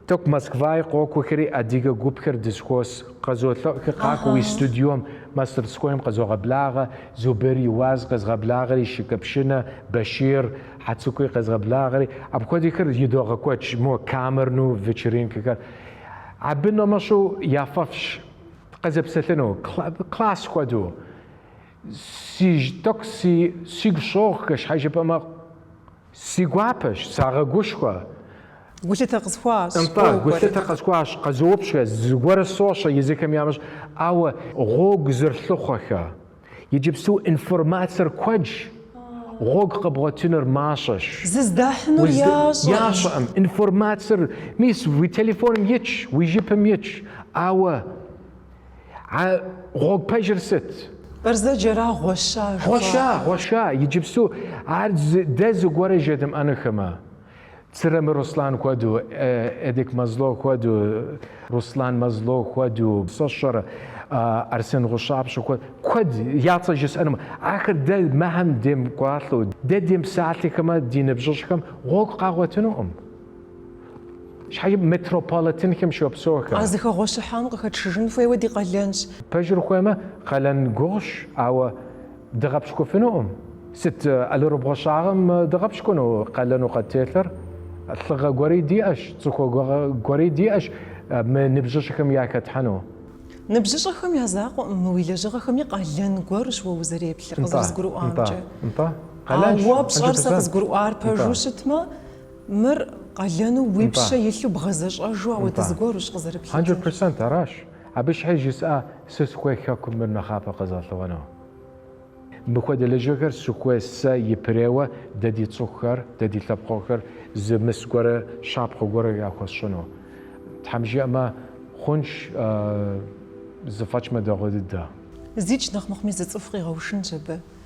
тӏэкӏу Москваи къокӏуэхэри адыгэ гупхэр дысхуос къызолъэӏухэ къакӏуэу и студиом мастерскоим къызогъэблагъэ, Зубер Еуаз къезгъэблагъэри, шыкӏэпщынэ, Бэшир Хьэцӏыкӏуи къезгъэблагъэри, апхуэдэхэр идогъэкӏуэкӏ мо камерну вечеринкэхэр. Абы нэмыщӏу яфӏэфӏщ къызэпсэлъэну, класс хуэдэу. Си жь тӏэкӏу си, сигу щӏогъухэ, щхьэ жыпӏэмэ. Си гуапэщ, сагъэгушхуэ. Гулъытэ къысхуащӏ, Нтӏэ, гуо гуэрыт. гулъытэ къысхуащӏ, къызоупщӏхэ, зыгуэр сощӏэ, езыхэм ямыщӏэ, ауэ. Гъуэгу зэрылъыхъуэхэ. Иджыпсту информацэр куэдщ, гъуэгу къэбгъуэтынур мащӏэщ. Зыздахьынур Уз- ящӏэ. Ящӏэкъым, информацэр, мис, уи телефоным итщ, уи жыпым итщ, ауэ. А гъуэгу пэжыр сыт? Бэрзэджэра гъуэща жыхуаӏэр? Гъуэща, гъуэща. Иджыпсту ар дэ зыгуэрэ жэдымӏэнухэмэ. Црым Руслан хуэдэу, Эдик Мазло хуэдэу, Руслан Мазло хуэдэу, сэ сщӏэрэ, Арсен Гъущӏапщэ хуэдэу, куэд, я цӏэ жысӏэнумэ. Ахэр дэ мыхэм демкӏуалӏэу, дэ демпсалъэхэмэ, ди ныбжьыщӏхэм гъуэгу къагъуэтынукъым. Щхьэжи метрополитенхэм щопсэухэ. А зыхэгъуэщыхьам къыхэтшыжын хуейуэ ди къалэнщ. Пэжыр ухуеймэ, къалэн гугъущ, ауэ дыгъэпщкӏуфынукъым. Сыт алурыбгъуэ щагъым дыгъэпщкӏуну къалену къыттелъыр? Лӏыгъэ гуэри диӏэщ, цӏыхугъэ гуэри диӏэщ мы ныбжьыщӏэхэм яхэтхьэну. Ныбжьыщӏэхэм я закъуэкъым мы уи лэжьыгъэхэми къалэн гуэрщ уэ узэреплъыр, къызэрызгурыӏуамкӏэ. Нтӏэ, нтӏэ, нтӏэ. Къалэнщ, хьэндыртызэ. Ауэ пщӏэр сэ къызгурыӏуар пэжу щытмэ, Мыр къалэну уи пщэ илъу бгъэзэщӏэжу апхуэдэ зыгуэрущ къызэрыплъытэр. Хьэндрэд персент аращ. Абы щхьэкӏэ сэ, сэ сыхуей Хэкум мыр нэхъапэ къэзгъэлъэгъуэну. Мыхуэдэ лэжьыгъэхэр сыхуей сэ япэрауэ дэ ди цӏыхухэр, дэ ди лъэпкъэгъухэр зы мыс гуэрэ щапхъэ гуэрэ яхуэсщӏыну. Тхьэм жиӏэмэ, хъунщ, зы фӏэкӏмэ дэгъуэ дыдэ. Зикӏ нэхъ мыхъуми зы цӏыху къигъэушынщ абы.